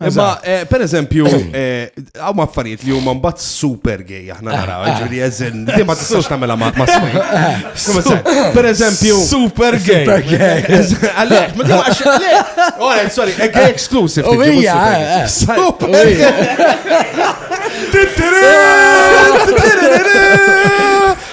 Imma, eh, per eżempju, eh, għaw ma affarijiet li huma mbagħad super gay aħna naraw, eh, ġifieri eżen, li ma tistax tagħmilha ma' ma' smej. Per eżempju, super gay. Super gay. Għalek, ma tistax għax għalek. Ora, sorry, e gay exclusive. U hija, super gay.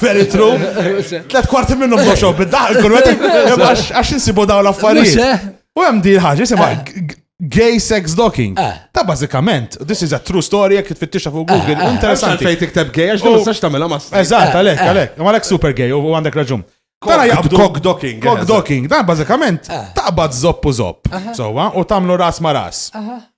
Very true. Tlet kwarti minnum boxo bid-daħ, kull għax insibu daw l-affarijiet. Eh? U hemm di ħaġa jisimha eh. gay sex docking. Eh. Ta' bażikament, this is a true story jekk tfittixa fuq Google. Interessanti. Fejn tikteb gay għax ma sax tagħmilha ma. Eżatt, għalhekk, għalhekk. Ma għalhekk super gay u għandek raġun. Tara jaqbdu. Cock docking. Cock docking. Dan bażikament taqbad zopp u zopp. Sowa, u tagħmlu ras ma ras.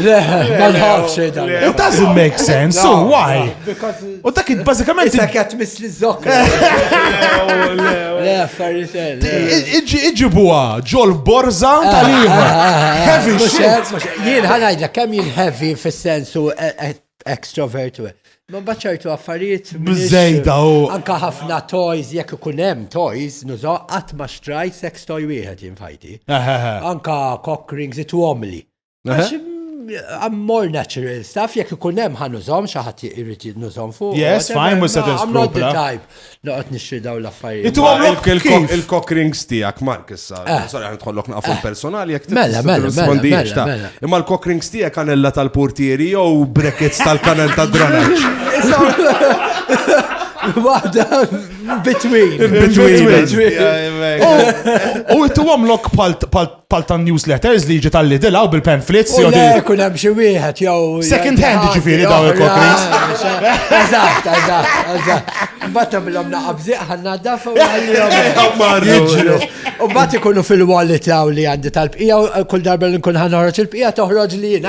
Le, ma nħafx xejda. It doesn't make sense, so why? U dak bażikament. Issa kjat misli zokk. Le, affarijiet. Iġibuha ġol borza ah, tal-ieħor. Ah, ah, heavy shit. Jien ħanajdlek kemm jien heavy fis-sensu e- e- extrovert. Ma baċċajtu affarijiet. Bżejda u. Anka ħafna toys, jekk ikun hemm toys, nużaw qatt ma xtraj sex toy wieħed jinfajti. Anka cock rings it għomli. I'm more natural stuff, jek ikun hemm ħan użom xi ħadd irid jinnużom fuq. Yes, fine, mhux se I'm not the type. Noqgħod nixtri daw l-affarijiet. Intu għamlok il-cock rings tiegħek Mark issa. Eh. Sorry ħan tħollok naqfu eh. personali jekk mela, mela, mela, Imma l-cock rings tiegħek kanella tal-portieri jew brackets tal-kanel tad-dranaġġ. Waħda between. Between. U intu għamlok pal pal tan newsletters li jiġi tal-lidila u bil-pamphlets. U le, kun hemm xi wieħed jew. Second hand ġifieri daw il-kokris. Eżatt, eżatt, eżatt. Mbagħad tagħmilhom naqabżieq ħanna daf u jiġru. U mbagħad ikunu fil-wallet li għandi tal-bqija u kull darba li nkun ħanħorġ il-bqija toħroġ li jien.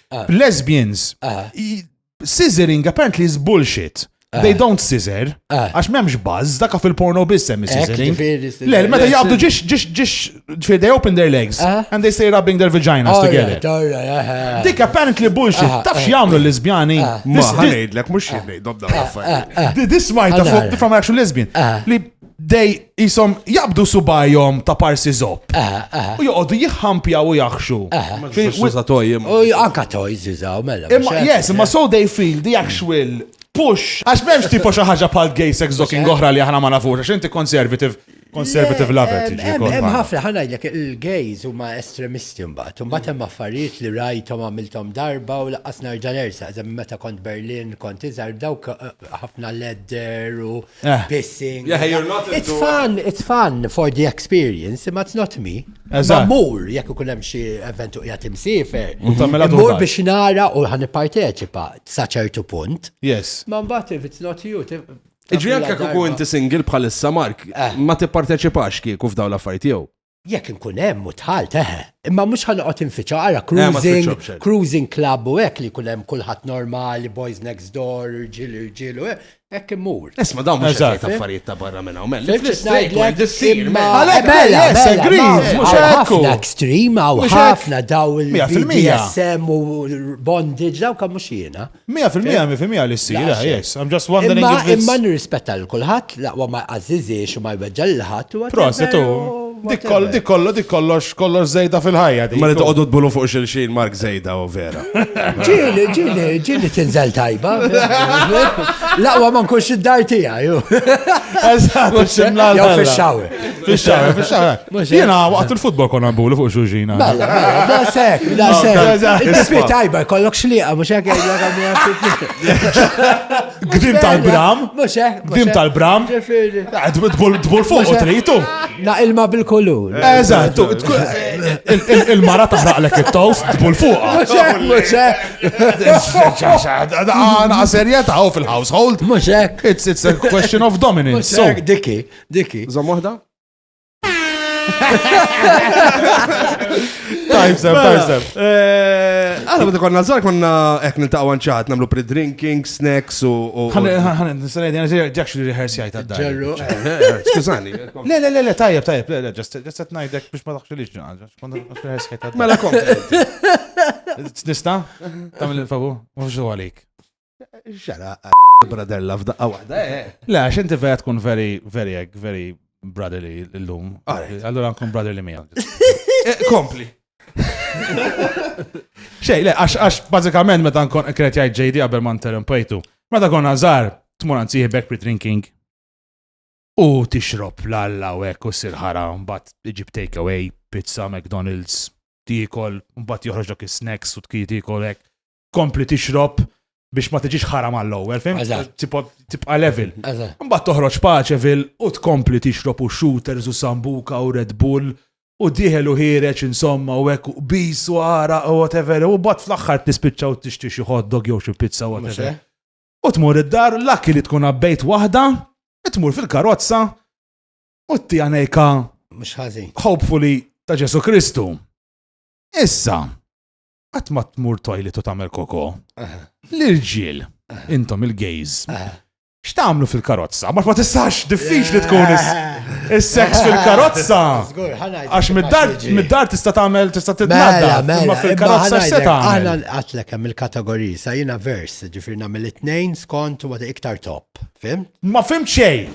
Ah. Lesbians. Ah. Scissoring apparently is bullshit. Ah. They don't scissor. Ah. Għax memx buzz, daka fil-porno biss hemm scissoring. Le, meta jgħabdu ġiex, ġiex, ġiex, ġifir, they open their legs ah. and they stay rubbing their vaginas oh, together. Dik apparently bullshit, tafx jgħamlu l-lesbjani. Ma ħanejdlek, mux jgħidlek, dobda This might from actual lesbian. Li dej jisom jaqbdu subajhom ta' parsi zopp. Aha, aha. U joqogħdu jħampjaw u jaħxu. Fil- Xu sa tojjem. U anka toj zizaw, mela. Imma, mhux yes, hekk, imma so they feel the actual push. Għax memx tipo xi ħaġa bħal gay sex docking oħra li aħna ma nafux, għax inti conservative, conservative Le, lover em, tiġi. em, kont Hemm magħna. ħafna ħanajlek il-gays huma estremisti mbagħad. Mbagħad hemm affarijiet li rajthom għamilthom darba u laqqas nerġa' nersa. Eżem meta kont Berlin kont iżgħar dawk eh, ħafna ledder u Eh. pissing. Yeah, you're not into... It's fun, it's fun for the experience, but it's not me. Eżatt. Mur, jekk ikun hemm xi event u qiegħed imsiefer. U tagħmilha Mur Dubai. biex nara u ħan nipparteċipa sa ċertu punt. Yes. Ma mbagħad if it's not you. ti- Iġri tagħmilha anke kieku darba. inti single bħalissa Mark, Eh. ma tipparteċipax kieku f'daw l-affarijiet jew. Jekk inkun hemm u dħalt, eħe. Imma mhux ħa noqgħod infiċċha, ara cruising, cruising club u hekk li jkun hemm kulħadd normali, boys next door, irġiel irġiel u hekk, hekk immur. Isma' dawn mhux qed jgħid affarijiet ta' barra minn hawn, mela. Fil-ġistajlek issir, mela. Mela, yes, agreed, mhux hekk. Ħafna extreme, hawn ħafna daw il-BDSM u bondage, daw kemm mhux jiena. Mija fil-mija, mi fil-mija li s-sir, ah, yes. I'm just wondering if it's... Imma nirrispetta l-kulħat, laqwa ma jqazziziex u ma jbeġġa l-ħat. Proset, u. Dik kollu, dik kollox, kollox zejda fil-ħajja. Ma li toqgħodu tbulu fuq xilxin Mark zejda u vera. Ġili, ġili, ġili tinżel tajba. Laqwa ma nkunx id-dar tiegħi. Eżatt, ximla. Jew fix-xawi. Fix-xar, fix-xar. Jiena waqt il-futbol konna nbulu fuq xuġina. Bella, bella, da sek, da sek. Inti tajba, kollok xliqa, mux hekk Gdim tal-bram. Mux hekk. Gdim tal-bram. Tbul fuq u tritu. Na ilma bil-kulur. Eżatt, il-mara taħraqlek it-tof, tbul fuq. Mux hekk, mux hekk. Għana serjeta fil-household. Mux hekk. It's a question of dominance. Diki. Dik hi. Żomm waħda? Time stamp, time Mela, stamp. eh, Aħna meta konna żgħar konna hekk niltaqgħu għanċat nagħmlu pre-drinking, snacks u. u- Ħan, ħan, ħan, nistanaj, għana ġakx li reħers jajt għadda. Ġerru. Skużani. Le, le, le, le, tajjeb, tajjeb, le, le, ġast għet najdek biex ma taħxu liġ ġanġa. Kont għax reħers jajt għadda. Mela kom. Nista? Tamil il-fabu? Ma fxu għalik. Xara, brother love daqqa waħda. Eh, eh. Le, għax inti vera tkun very, very, very brotherly l-lum. Allora nkun brotherly mija. Eh, kompli. Xej, le, għax, għax, bazikament, meta nkun kret jgħid JD għabel ma interrompejtu. Meta kon għazar, tmur għanzi back pre-drinking. U tixrob l-alla u ekku sirħara, mbat iġib take away, pizza, McDonald's, tikol, mbat joħroġ dak snacks u tkiti tikol ek. tkompli tixrob biex ma tiġix ħaram għall-ewwel, fim? Tibqa' level. Mbagħad toħroġ paċevil u tkompli tixrob u shooters u sambuka u Red Bull u diħel u ħireċ insomma u hekk u bis u għara u whatever u bat fl-aħħar tispiċċa u tixti xi hot dog jew xi pizza u whatever. U tmur id-dar l-akki li tkun abbejt waħda, tmur fil-karozza u t għanejka. Mux ħażin. Hopefully ta' Ġesu Kristu. Issa, Qatt ma tmur toilet u tagħmel koko. L-irġiel, intom il-gays, x'tagħmlu fil-karozza? Ma ma tistax diffiċli tkun is-sex fil-karozza. Għax mid-dar tista' tagħmel tista' titnadda. Mela, mela, ma fil-karozza se tagħmel. Aħna nqatlek hemm il-kategoriji sa jiena vers, ġifier nagħmel it-tnejn skont u iktar top. Fim? Ma fim xejn.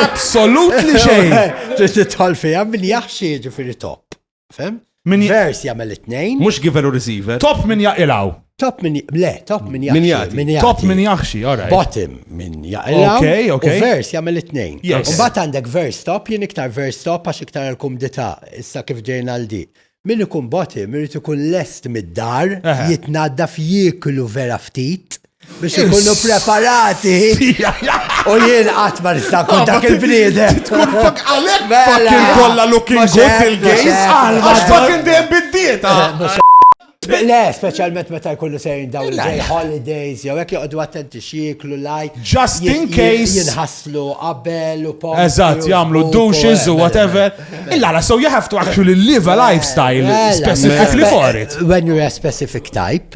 Absolutely xejn. Titħol fiha min jaħxi ġifieri top. Fem? Min vers jagħmel it-tnejn. Mhux giver u receiver. Top min jaqilgħu. Top min le, top min jaqilgħu. Min jaqilgħu. Top min jaħxi, ora. Bottom min jaqilgħu. Okay, okay. U vers jagħmel it-tnejn. Yes. U bat għandek vers top, jien iktar vers top għax iktar għal-kumdità issa kif ġejna għal di. Min ikun bottom irid ikun lest mid-dar, jitnaddaf jieklu vera ftit. biex ikunu preparati. U jien qatt ma nista' kun ah, dak il-bniedem. Tkun fak għalek mela. fucking kollha looking good il-gays. Għax fucking dejjem bid-dieta. Eh, Le, specialment meta jkollu sejn dawn il-day holidays, jew hekk joqogħdu attenti xieklu laj. Just in case. Jinħaslu qabel u pom. Eżatt, jagħmlu douches u whatever. Illa la, so you have to actually live a lifestyle specifically for it. When you're a specific type,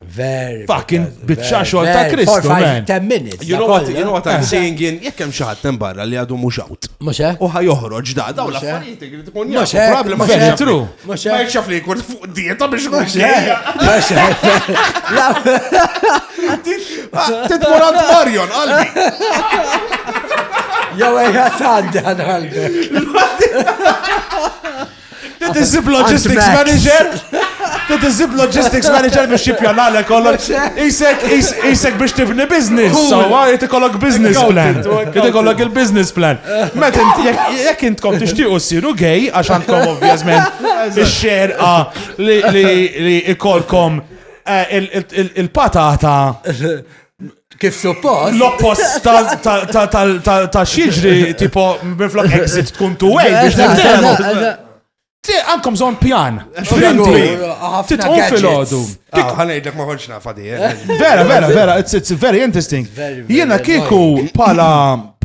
Very. Fucking bitxa xogħol ta' Kristu. You know what, you know what I'm saying in jekk hemm xi ħadd barra li għadu mhux out. Mhux hekk. U ħajoħroġ da dawn l-affarijiet li tkun jaf. Problema xi tru. Mhux hekk. Ma jxaf li jkun fuq dieta biex mhux hekk. Mhux hekk. Titmur għand Marion qalbi. Jew ejja tgħaddi għal qalbi. Dit iżib logistics manager. Dit iżib logistics manager biex jippjana l kollok. Isek, isek biex tibni business. So, jt kollok business plan. Jt kollok il-business plan. Met jek intkom tixtiqu siru gay, għax għandkom ovvjazment il-xerqa li ikolkom eh, il-patata Kif suppost? L-oppost ta' xieġri, tipo, minflok exit tkun tu way biex t Ti għandkom zon pjan. Frinti. Titqum fil-ħodu. Ah, Għanajdlek ma konċna fadi. Eh? Eh, vera, vera, vera. It's very interesting. Jena kiku pala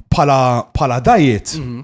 pala pala dajiet. Mhm.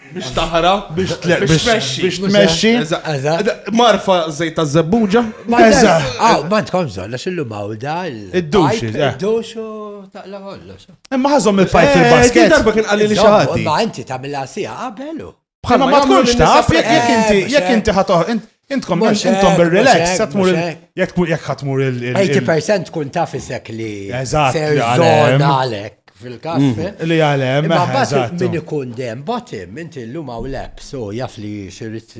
Biex taħra, biex tmexxi. Biex tmexxi. Marfa żejt ta' żebbuġa. Eża. Aw, ma tkom żolla xillu mawda. Id-dux. Id-dux u taqla kollox. Imma ħażhom il-pajp fil-basket. Darba kien qalli li xi ħadd. Ma inti tagħmilha sija qabelu. Bħalma ma tkunx taf jekk inti jekk inti ħatoħ Intkom, intkom bil-relax, satmur jek jek ħatmur il- 80% tkun taf isek li. Eżatt, Ser li għalem. zona għalek fil-kas. Mm. Li għalem, Ma bat eżatt. min ikun dem bottom, inti l-lum għaw lep, so jaf li xirrit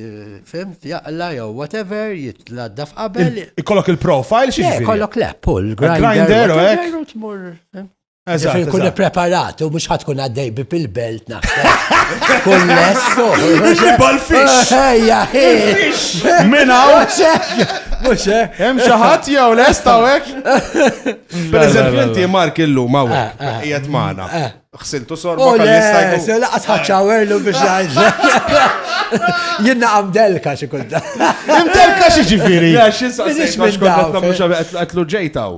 fimt jaqla jew whatever, jitladda f'qabel. Ikollok il-profile xi Le, ġifieri? kollok lep, pull, grinder, Grinder, u whatever, hekk. u tmur. eh. Eżatt. Kun preparat, u mux ħatkun għaddej bi pil-belt naħseb. Kun lesto. Bal-fix. Ejja, Minaw. Mux Hemm xi ħadd jew lesta u hekk. Per eżempju inti Mark illum hawn ah, ah. qiegħed magħna. Ah. Xsiltu sorba oh, kalista jkun. Se laqas ħaċċawerlu biex ngħid. Jiena għam delka xi kunta. Hemm delka xi ġifieri. Għax insa xi kontat nagħmlu xi qatlu ġejtaw.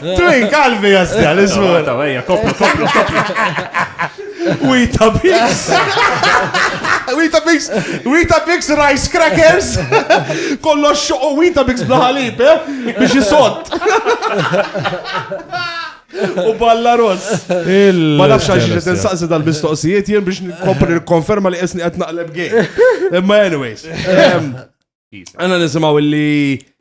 Twin kalbi jasdi għal ismu. Ta' għajja, koplu, koplu, koplu. Wita Bix. Wita Bix. Wita Bix Rice Crackers. Kollo xoqo Wita Bix blaħalib, eh? Bix jisot. U balla ross. Ma nafx għax ġiet insaqsi dal-mistoqsijiet jien biex nkompli konferma li qisni qed naqleb gej. Imma anyways. Għanna nisimaw li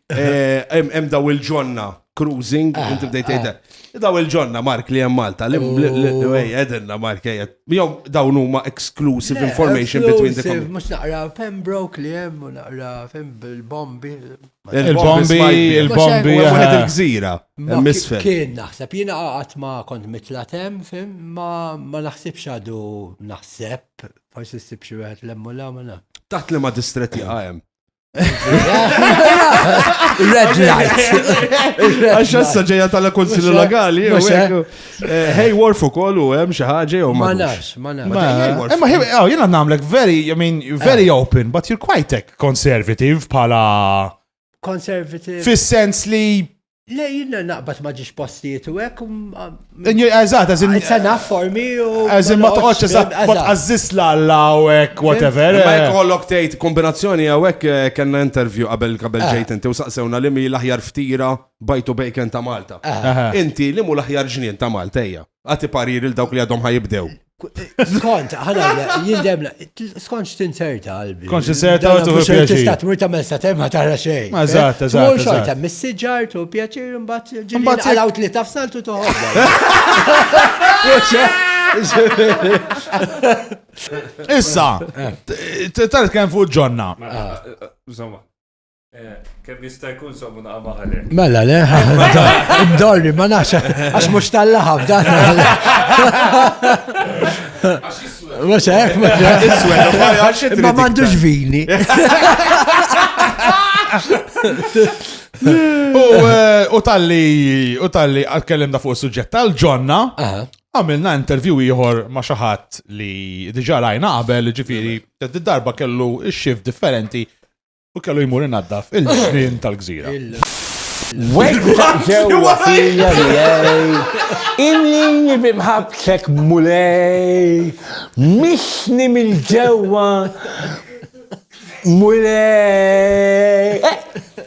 eh, hemm daw il-ġonna cruising, ah, inti bdejt tgħidha. Ah. Daw il-ġonna Mark li hemm Malta, li għedinna oh. Mark ejja. Jew dawn huma exclusive information between the communities. Mhux naqra Pembroke li hemm u naqra il-bombi. Il-bombi, il-bombi. Wieħed il-gżira. Kien naħseb jiena qatt ma kont mitlatem, fim, ma naħsibx għadu naħseb Forsi ssib xi wieħed lemmu la ma naf. Taħt li ma distretti għajem. Red light. Għax issa ġeja tal konsilju legali. Hey, war fuq kollu, hemm xi ħaġa jew ma nafx, ma nafx. Ma oh, jiena nagħmlek very, I mean, very eh. open, but you're quite conservative bħala. Conservative. Fis-sens li Le, jien naqbad ma ġiex postijiet u hekk. Eżatt, eżin. Issa naf formi u. Eżin ma toqgħodx eżatt, ma tqażżis l-alla u hekk, whatever. Ma jekk kollok eh. tgħid kombinazzjoni hawn hekk eh, kellna interview qabel qabel eh. ġejt inti u saqsewna li mi l-aħjar ftira bajtu bejken ta' Malta. Inti li mu l-aħjar ġnien ta' Malta ejja. Għati parir il dawk li għadhom ħajibdew. Skont, ħanajna, jindemna, skont x'tinserta qalbi. Skont x'tinserta u tuħu pjaċir. Tista' tmur tagħmel sa temma tara xejn. Ma eżatt, eżatt. Mhux xorta, mis-siġar tu pjaċir imbagħad ġimbagħad għalaw li tafsaltu toħodha. Issa, tara kemm fuq ġonna. Żomma. Kemm jista' jkun sommu naqa' maħalek. Mela le, dorri ma nafx għax mhux tal-laħab dan. Mhux hekk, mhux hekk. Iswed, ma m'għandux vini. Eh, u tal-li, u tal-li għatkellimna fuq suġġett tal-ġonna, għamilna intervju ieħor ma' xaħat li diġa rajna qabel, ġifiri, darba kellu xif differenti U kellu jmur inaddaf il-ġnien tal-gżira. Wegħda ġewwa fija miegħi, inni bimħabtek mulej, mixni mill-ġewwa mulej. Eh,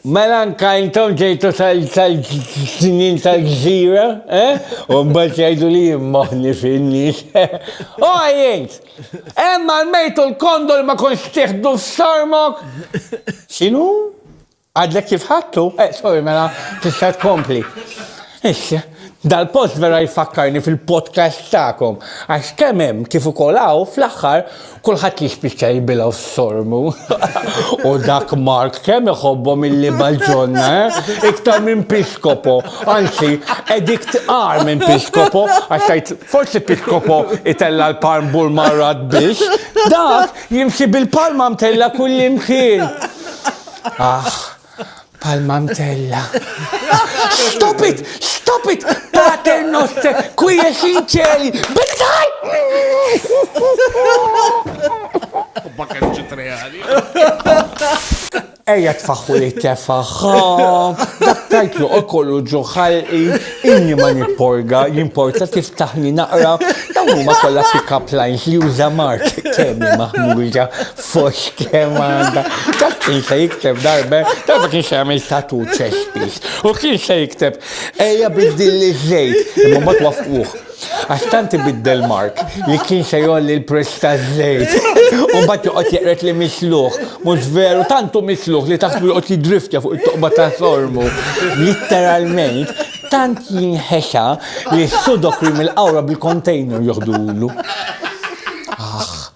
mela anka intom ġejtu tal-ġnien tal-gżira, eh? u mbagħad jgħidu li jimmoħni fin-nies. U oh, għajjent! Hemm għall-mejt u l-kondol ma kontx tieħdu f'sarmok? X'inhu? Għadlek kif ħadtu? Eh, sorry, mela tista' tkompli. Iss, dal-post vera jfakkarni fil-podcast tagħkom, għax kemm hemm kif ukoll hawn, fl-aħħar, kulħadd jispiċċa jibilgħu f'sormu. U dak Mark kemm iħobbhom il-libaġonna, eh? Iktar minn piskopo, anzi, edict qar minn piskopo, għax tgħid Forsi Pitcopo itella' l-palm bull marrat biex dak jimxi bil-palma mtella' kullimkien. Aħ, palma mtella'. Stop it! Stop it! Pater noster, qui es in celi, benedicat! Hobba kemm ġiet reali. Ejja tfaħħu li tefaħ, dak tajtlu u kollu ġo ħalqi, inni ma nipporga, jimporta tiftaħni naqra, dawn huma kollha pick-up lines li juża Mark kemmi maħmuġa fox kemm għandha. Dak kien se jikteb darbe, darba kien se jagħmel tatu ċespis. U kien se jikteb ejja biddilli ż-żejt, imma ma twaffquh. Għax tant ibiddel Mark li kien se jgħolli l-prezz taż-żejt. U mbagħad joqgħod jeqred li misluħ. Mhux veru, tant hu misluħ li taħsbu joqgħod jiddriftja fuq it-toqba ta' sormu. Litteralment, tant jinħexa li s-sudokri mill-qawra bil-kontejner joħdulu. Aħ.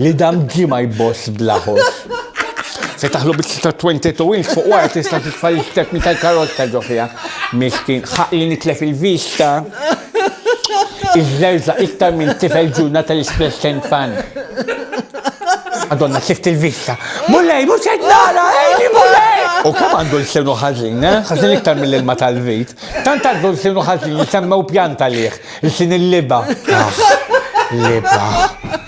Li dam ġie ma jboss bla ħoss. Fetaħlu bieċ ta' 22 inch fuq wara tista' titfa' l-istepni tal-karozza ġo fiha. Miskin, ħaq li nitlef il-vista. Iżżerża iktar minn tifel ġurna tal-Espress Tent Fan. Madonna, sift il-vista. Mulej, mhux qed nara, ejni mulej! U kemm għandu l-sinu ħażin, eh? Ħażin iktar mill-ilma tal-vit. Tant għandu l-sinu ħażin li semmew pjanta lih, il-sin il-liba. Liba.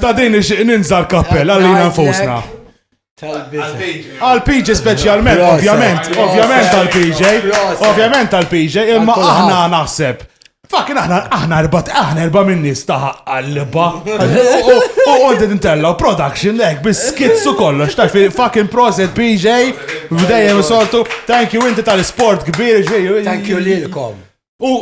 Ta' din nixtieq ninża l-kappell għalina nfusna. Għal-PJ specialment, ovvjament, ovvjament għal-PJ, ovvjament għal-PJ, imma aħna naħseb. Fakin aħna aħna erba aħna erba minn nies ta' qalba. U għondi nintella production lek bis skizzu kollox ta' fi fakin proset PJ b'dejjem soltu. Thank you inti tal-sport kbir ġej. Thank you lilkom. U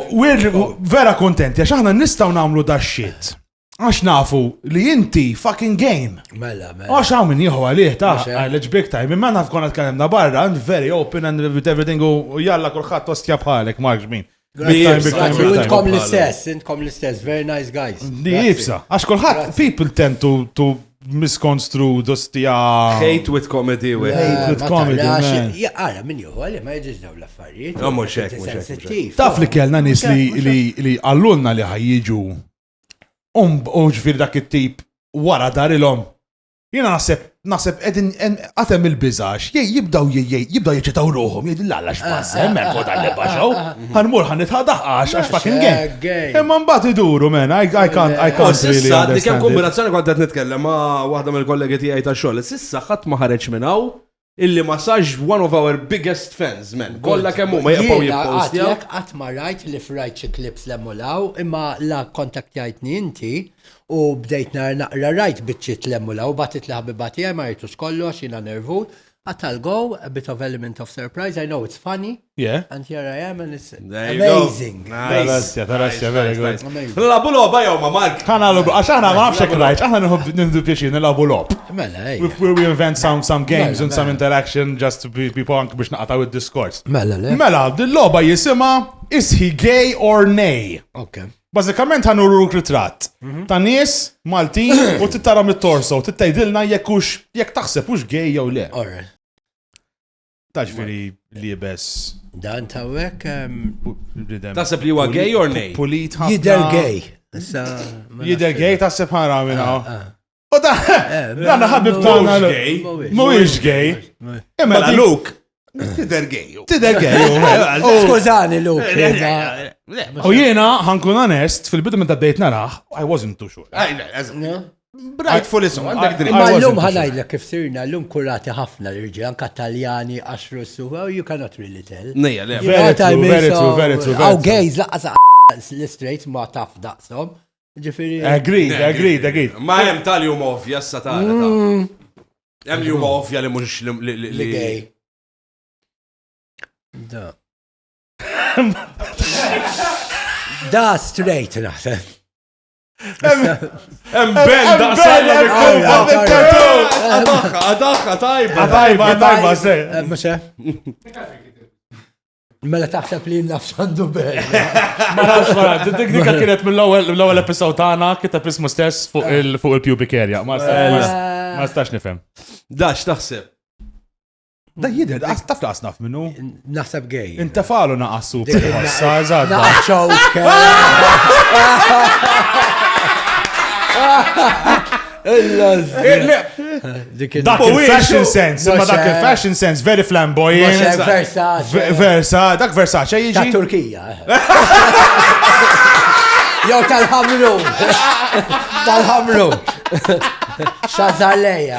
vera kontenti għax aħna nistgħu nagħmlu da shit. Għax nafu li inti fucking game. Mela, mela. Għax għaw minn jieħu għalih ta' għalleġ big time. Imma naf konna tkellimna barra, and very open and with everything u jalla kullħat tostja bħalek, marġ min. Intkom l-istess, intkom l-istess, very nice guys. Di jibsa, għax kullħat people tend to, to miskonstru dostija. Hate with comedy, we. Hate with comedy. Għara, minn juhu, għalli ma jġiġ daw l-affarijiet. Għamur xek, Taf li kellna nis li għallunna li ħajġu u ġifir dak it-tip wara darilhom. Jiena naħseb naħseb qegħdin għatem il-biżax, jibdaw jibdaw jiċċitaw ruhom, jgħidu l-għalla x'pass, hemm eh, fuq dan nibbaxaw, ħanmur ħan nitħadaħ għax għax fucking gay. Imma mbagħad iduru men, I can't I can't really understand. Dik hemm kombinazzjoni kont qed nitkellem ma' waħda mill-kollegi tiegħi ta' xogħol. Sissa ħadd ma ħareġ minn hawn Illi ma sarx one of our biggest fans man. Kollha kemm huma jibqgħu jippostjaw. Jiena għad qatt ma rajt li f'rajt xi clips hemm u 'l hawn imma la kkontaktjajtni inti u bdejt nara naqra rajt biċċiet 'l hemm u 'l hawn u bagħtiet liħabiba tiegħi ma rajtux kollox jiena nervus, qatt għal go a bit of element of surprise, I know it's funny, Yeah. And here I am and it's amazing. Tarassja, tarassja, very good. Labu loba jew ma Mark. Ħana lobu, għax aħna ma nafx krajt, aħna nħobb nindu pjaċir nilabu lob. Mela, ej. We invent some some games and some mela. interaction just to be punk biex naqataw id-diskors. Mela, le. Mela, dil-loba jisima is he gay or nay? Okay. Bazzikament għan uru ritratt mhm. ta' nies Maltin u tittara mit-torso, tittajdilna jekk hux jekk taħseb hux gej jew le. Taġviri libes. Dan tawek. Tasab li huwa gay or nej? Pulit ħafna. Jider gay. Jider gay tasab ħara minna. Ah, ah. U da, eh, dan ħabib tagħna gay. Mhuwiex gay. Imma la Luke. Tider gay. Tider gay. Skużani Luke. Eh, eh, u jiena ħankun onest fil-bidu minn ta' dejt naraħ, I wasn't too sure. Brajt full isom, għandek dritt. Imma l-lum ħanajdlek kif sirna, l-lum kurati ħafna l-irġi, anka taljani, għaxru s-su, oh, you cannot really tell. Nejja, le, very true, very true, very true. Għaw gejz, laqqas l-straight ma taf daqsom. Ġifiri. Agreed, agreed, agreed. Ma jem tal-jum ovvja, s ta' mm. Jem jum ovvja li mux li gej. Da. Da straight naħseb. Embel, daqsal, Adaxa, adaxa, tajba, tajba, tajba, se. Mxe. Mela taħseb li nafx għandu bel. Ma nafx wara, dik dik kienet mill-ewwel episod tagħna kiteb ismu stess fuq il-pubic area. Ma stax nifhem. Dax taħseb. Da jidher, taf laqas naf minnu? Naħseb gej. Inta falu naqas super. Naqas Dak il-fashion sense, ma dak il-fashion sense, very flamboyant. Versace. Dak Versace jiġi. Ta' Turkija. Jow tal-ħamru. Tal-ħamru. Xazaleja.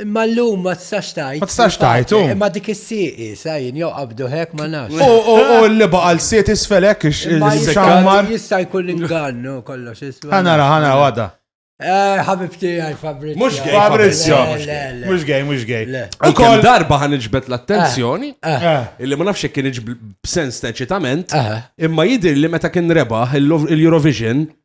Imma l-lum ma tistax tajt. Ma tistax tajt, u. Imma dik is-sieqi, sajn, jew qabdu hekk ma nafx. U u u li baqa' l-siet isfel hekk ix-xammar. Jista' jkun ingannu kollox isfel. Ħanara, ħanara, għada. Eh, ħabibti għaj Fabrizio. Mux għaj Fabrizio. Mux għaj, mux għaj. U kol darba ħan iġbet l-attenzjoni, eh, eh. Eh. illi ma nafx kien iġb b'sens ta' eċitament, imma jidir li meta kien rebaħ il-Eurovision,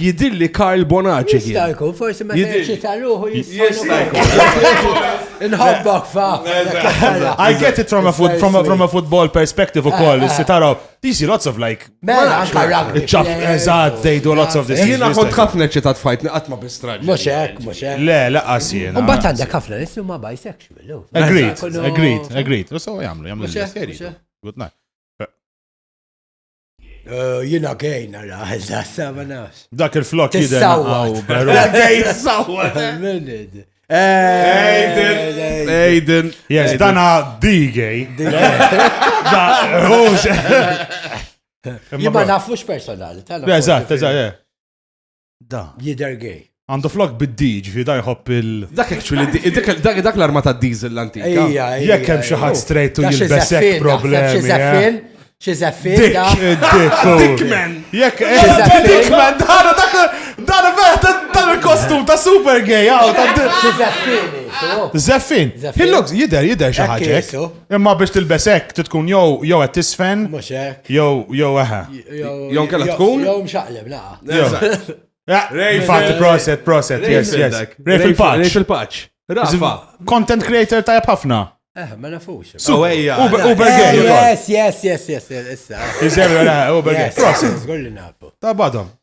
Jidilli Karl Bonaċi. Jista' jkun, forsi ma jista' ruħu jista' jkun. Nħobbok fa. I get it from a, foot, from a, from a football perspective u koll, eh, eh. si taraw, you see lots of like. Mela, anka rugby. Ċaf, eżad, they do lots of this. Jina kont ħafna ċitat fajt, naqat ma bistrad. Mux ek, mux ek. Le, laqas jena. Un bat għandek ħafna nissu ma bisexual. Oh. Agreed, agreed, agreed. U so jamlu, jamlu. Good night. Eh, jina gej nara, da sama nafs. Dak il-flok jidher naqgħu beru. Gej sawwa. Aiden. Aiden. Yes, dana di gay. Da, hux. Jibba nafux personali. Eżatt, eżatt, Da. Jider gay. Għandu flok bid-D, ġifi da jħobb il. Dak actually, dak l-arma ta' diesel l-antika. Ija, ija. Jekk hemm xi ħadd straight u jilbes hekk problemi. Xi żeffin, xi żeffin. Dik, dik, Dickman. Jekk hemm Dickman, dan dak dan vera dan il-kostum ta' super gay, għaw ta' Xi żeffin. Żeffin. He looks, jider, jider xi ħaġa. Imma biex tilbes hekk trid tkun jew jew qed tiżfen. Mhux hekk. Jew jew eħe. Jew inkella tkun. Jew mxaqleb naqa. Infatti proset, proset, yes, yes. Rej fil-paċ. Rej fil-paċ. Rafa. Content creator tajab ħafna. Eh, ma nafux. So, ejja. Uber gay. Yes, yes, yes, yes, issa. Iżemra, Uber gay. Proset. Għolli nafu. Ta' badom.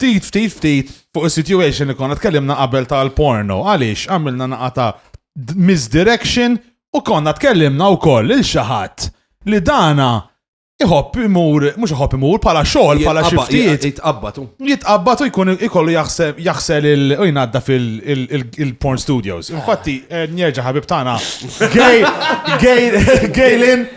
Ftit, ftit, ftit, fuq is-situation li konna tkellimna qabel tal-porno. Għaliex għamilna naqa ta' d- misdirection u konna tkellimna wkoll il xi ħadd li dana iħobb imur, mhux iħobb imur bħala xogħol, bħala xi Jitqabba- ftit Jitqabbatu. jitqabbad u jkun ikollu jaħseb jaħsel il u jnadda fil-porn studios. Infatti, eh, njerġa' ħabib tagħna. Gay, gay, Gaylin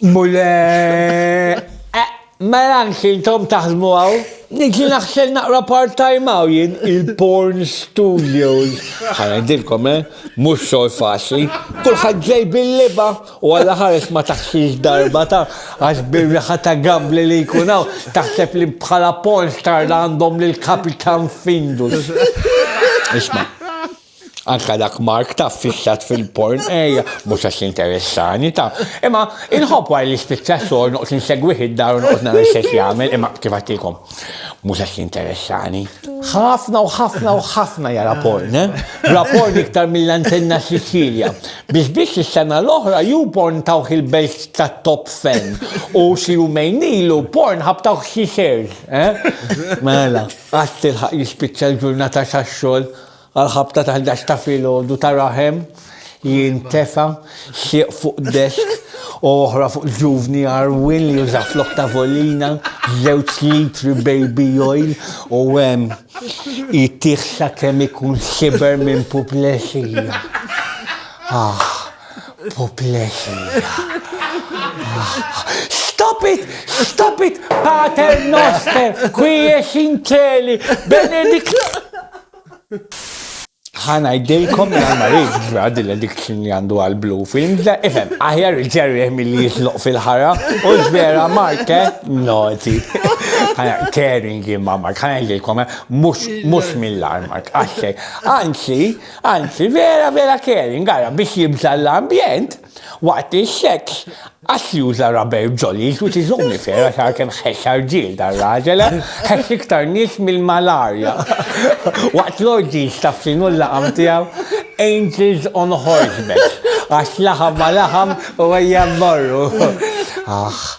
Mule, eh, mela anki intom taħdmu għaw, nġi naħsel naqra part-time għaw jien il-porn studios. Għana dilkom, eh, mux xol faċli, kullħad ġej bil-liba u għalla ħares ma taħsix darba ta' għax birriħa ta' gambli li jkunaw, taħseb li bħala porn star għandhom l-kapitan findus. Isma' Anka dak Mark ta' fissat fil-porn, ejja, mhux għax interessani ta' imma inħobb għal li spiċċa xogħol noqgħod insegwih id-dar u noqgħod nara x'qed jagħmel, imma kif għattilkom, mhux għax jinteressani. Ħafna u ħafna u ħafna jara porn, ra porn iktar mill-antenna Sicilia. Biss biss is-sena l-oħra YouPorn tawh il-belt ta' Top Fan u xi jumejn ilu Pornhub tawh xi shares. Mela, qatt tilħaq jispiċċa l-ġurnata tax-xogħol? Għall-ħabta ta' ħdax ta' filgħodu ta' raħem jintefa' sieq fuq desk u oħra fuq ġuvni għarwien li juża flok tavolina żewġ litri baby oil u hemm jtiegħ sakemm ikun siber minn puplesija. Aħ! Puplexija. Stop it! Stop it! Pater noster, kwiex inkeli, benedik. ħana jdejkom minn għal-marid grad l-addiction li għandu għal-blu film, da ifem, aħjar il-ġerri mill-li jitloq fil-ħara, u ġvera marke, noti. ħana caring imma mark, ħana jdejkom, mux mill-armak, għaxxej. Anzi, Anzi, vera vera caring, ara biex jibża' l-ambjent, waqt is-sex qass juża rubber jollies which is only fair għax ara kemm ħexxa rġiel dar-raġel, eh! Ħexx iktar nies mill-malarja. Waqt l-orgies taf x'inhu l-laqam tiegħu? Angels on horseback, għax laħam ma' laħam u ejja mmorru. Aħ!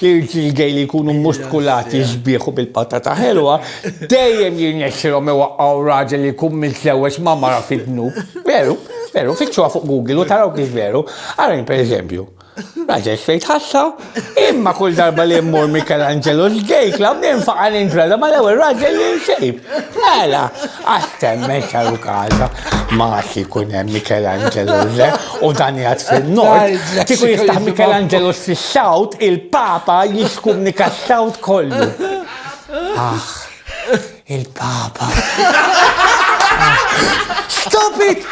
L-irġiel gay li jkunu mustkulati sbieħ u bil-patata ħelwa dejjem jirnexxilhom iwaqqgħu raġel li jkun miżżewweġ ma' mara fid-dnub. Veru, veru, fittxuha fuq Google u taraw kif veru. Arajn pereżempju. Raġel straight ħassa, imma kull darba li mmur Michelangelo's Gay Club ninfaqa' nintrada mal-ewwel raġel li nsib. Mela! Qatt temmen xaru kaza ma għax ikun hemm Michelangelo le u dan jgħad fin-nord. Kieku jiftaħ Michelangelo fis-south, il-Papa jiskumnika s-south kollu. Ah, il-Papa. Stop it!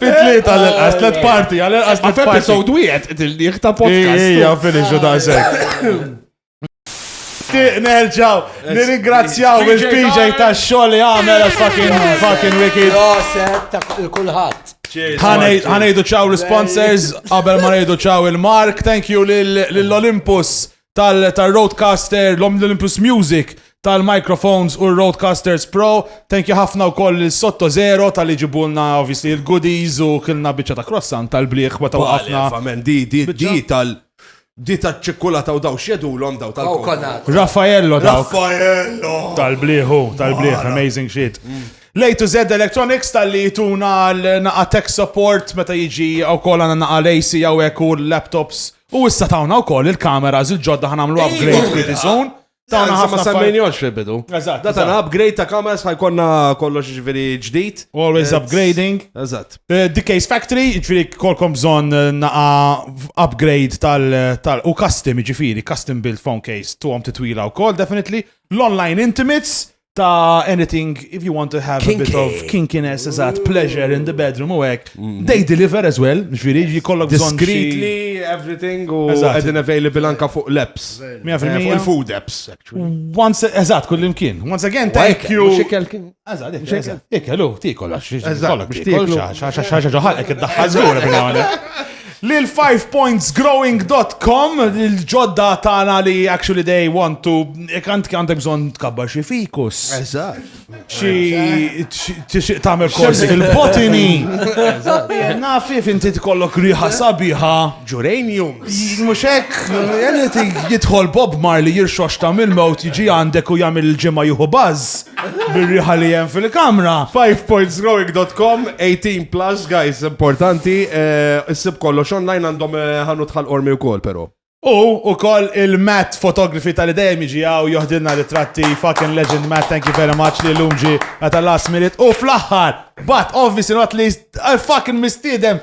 Fit-tliet għal-inqas, tliet parti, għal-inqas tliet parti. Episode wieħed, il-liħ ta' podcast. Ija, finish u ta' sekk. Nerġaw, nirringrazzjaw il-PJ ta' xogħol li għamel fucking fucking wicked. Roset ta' kulħadd. Ħanejdu ċaw l-sponsors, qabel ma nejdu ċaw il-Mark, thank you lill-Olympus tal-Roadcaster, l-Olympus Music, tal-microphones u l-Roadcasters Pro. Thank you ħafna wkoll lil Sotto Zero tal-li ġibulna obviously il-goodies u kilna biċċa ta' croissant tal-bliħ meta waqafna. Amen, di, di, di tal- di ta' ċikkulata u daw xjedulhom daw tal Coconut. Raffaello daw. Raffaello! Tal-bliħu, tal-bliħ, amazing shit. Lay to Z Electronics tal-li tuna l-naqa tech support meta jiġi u kol għana naqa l-AC għawek u l-laptops U issa tawna u koll il-kameras il-ġodda ħanamlu upgrade pretty soon. Tawna ħafna ma semmejnjox fil-bidu. Eżatt. Da tana upgrade ta' kameras ħajkonna kollox ġviri ġdid. Always upgrading. Eżatt. Eh, The Case Factory, ġviri kolkom bżon eh, naqa upgrade tal- u custom ġifiri, custom build phone case, tu għom titwila u koll, definitely. L-online intimates, ta' anything if you want to have a bit of kinkiness, eżat, pleasure in the bedroom u hekk. Mm-hmm. They deliver as well, ġifieri jkollok bżonn discreetly everything u qegħdin available anka fuq l-apps. Fuq il-food apps actually. Once eżat kull imkien. Once again thank you. Eżat, eżat. Ikelu, tikol għax. Eżat, biex tikol. Xaxa ġoħal hekk iddaħħal żgur Lil fivepointsgrowing dot com, il-ġodda tagħna li actually they want to kant għandek bżonn tkabbar xi fikus. Eżatt. Xi tixtieq tagħmel korsi fil-botini. Nafi finti tkollok riħa sabiħa. Geraniums. Mhux hekk, anything jidħol Bob Marley jirxox ta' mill-mewt jiġi għandek u jagħmel il-ġimgħa jieħu baż. Bir-riħa li hemm fil-kamra. 5pointsgrowing.com 18 plus guys importanti eh, issib kollox online għandhom eh, ħanu tħal ormi wkoll però. U u koll il-Matt fotografi tal dejjem jiġi għaw joħdilna ritratti fucking legend Matt, thank you very much li l-umġi għata last minute u fl-axħar, but obviously not least, I fucking mistidem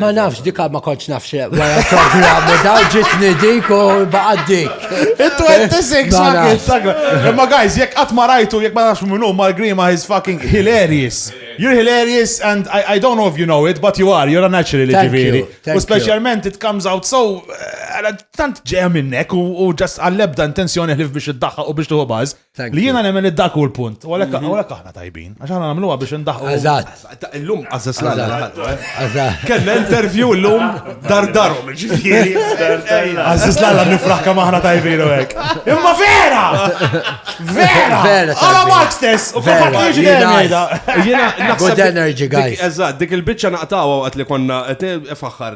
Ma nafx dika ma konċ nafx wara programmu daw ġitni dik u baqad dik. Il-26 ma kienx sakra. Imma guys, jekk qatt ma rajtu, jekk ma nafx minnu, Mark Grima is fucking hilarious. You're hilarious and I, I don't know if you know it, but you are, you're a natural li ġiviri. U specialment it comes out so, eh, tant ġeja minnek u ġas għallebda intenzjoni ħlif biex id-daħħa u biex tuħu baż. Li jiena nemmen li dak hu l-punt. U għalhekk mhm. għalhekk aħna tajbin. Għax aħna nagħmluha biex indaħħu. Eżatt. Illum għażas l Kellna interview illum dar darhom ġifieri. Għażas l nifraħ kemm aħna tajbin u hekk. Imma vera! Vera! Vera! Għala Mark stess! U kif qed jiġi Jiena naħseb. Good energy guys. Eżatt, dik il-biċċa naqtgħu waqt li konna qed faħħar